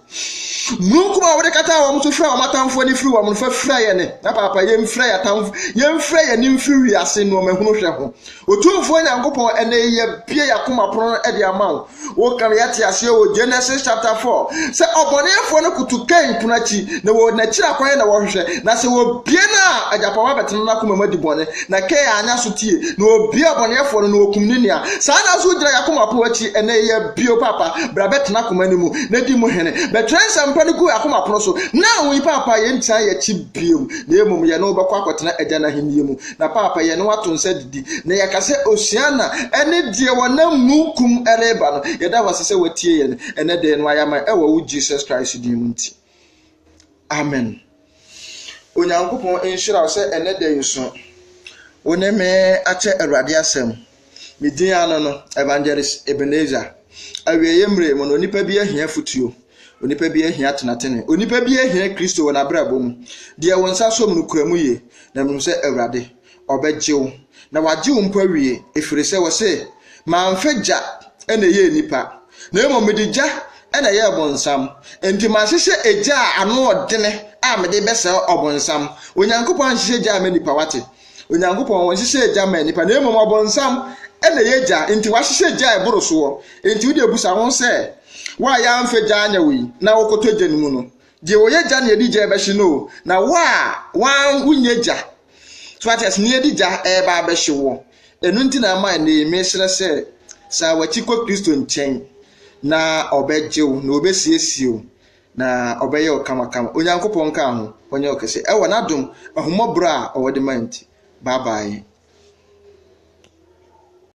Mununkum a wode kataa wɔn so fira wɔn atamfoɔ ani firi wɔn no, fa fira yɛn ne, na papa yɛmfira yɛn atamfo, yɛmfira yɛn ani mfiri wiase nnoɔma hunu hwɛ ho. Otumfoɔ Nyankopɔn, ɛnnɛ yi yɛbue yɛn akoma pono de ama wo. Woka no yɛte aseɛ wɔ Genesis chapter 4 sɛ ɔbɔneɛfoɔ no koto Kain pono akyi na wɔ n'akyiri akwan na wɔhwehwɛ na sɛ wɔbie no a agyapama bɛtena n'akoma mu adi bɔne na Kain anya so tie na wɔbie ɔbɔneɛfoɔ no na wɔkum ne nua saa na nso wogyina yakoma pono akyi ɛnɛ yɛ bio papa bra bɛtena akoma no mu na di mu hene bɛtwerɛ nsɛmpa no gu yakoma pono so na wo papa yɛntia yɛkyi bio na mmom yɛne wobɛkɔ akɔtena agya no ahennie mu Na paapa yɛne wo ato nsa didi, na yɛka sɛ Osiana ɛne deɛ wɔnam munkum ɛreba no, yɛda wase sɛ watie yɛn ɛnɛ dɛɛ no ayama ɛwɔ wo Jesus Christ din mu nti. Amen. Onyankopɔn nhyira wo sɛ ɛnɛ dɛɛ so wo ne me akyɛ Awurade asɛm. Me din ara ne no, Evangelist Ebenezer. Awieeɛ mmerɛ mu no, onipa bi ahia afotuo. Onipa bi ahia tenatene. Onipa bi ahia Kristo wɔ n'abrabɔ mu. Deɛ wɔn nsa som no kura mu yie, na mehu sɛ Awurade, ɔbɛgye wo. Na wagye wo mpo awie, ɛfiri sɛ wɔse, mamfa gya na ɛyɛɛ nnipa, na mmom mede gya na ɛyɛɛ bonsam. Enti mahyehyɛ egya a ano ɔdene a mede bɛsɛe ɔbonsam. Onyankopɔn anhyehyɛ gya ama nnipa, wate? Onyankopɔn nhyehyɛɛ gya ma nnipa, na mmom ɔbonsam na ɛyɛ gya, nti wahyehyɛ gya a ɛboro soɔ. Nti wode abusa ho sɛ, wo a yɛamfa gya anyɛ wo yi, na wokɔtɔ gya no mu no, deɛ ɔyɛ gya na yɛde gya ɛbɛhye no o, na wo a wan wonyɛ gya, so ate ase, na yɛde gya ɛreba abɛhye wo. Ɛno nti na ama ɛnɛ yi mehyerɛ sɛ, san w'akyi kɔ Kristo nkyɛn, na ɔbɛgye wo, na ɔbɛsiesie wo, Na ɔbɛyɛ wo kamakama. Onyankopɔn nkaa ho, ɔnyɛ wo kɛse. Ɛwɔ n'adom, ahummɔborɔ a ɔwɔ de ma nti. Bye bye.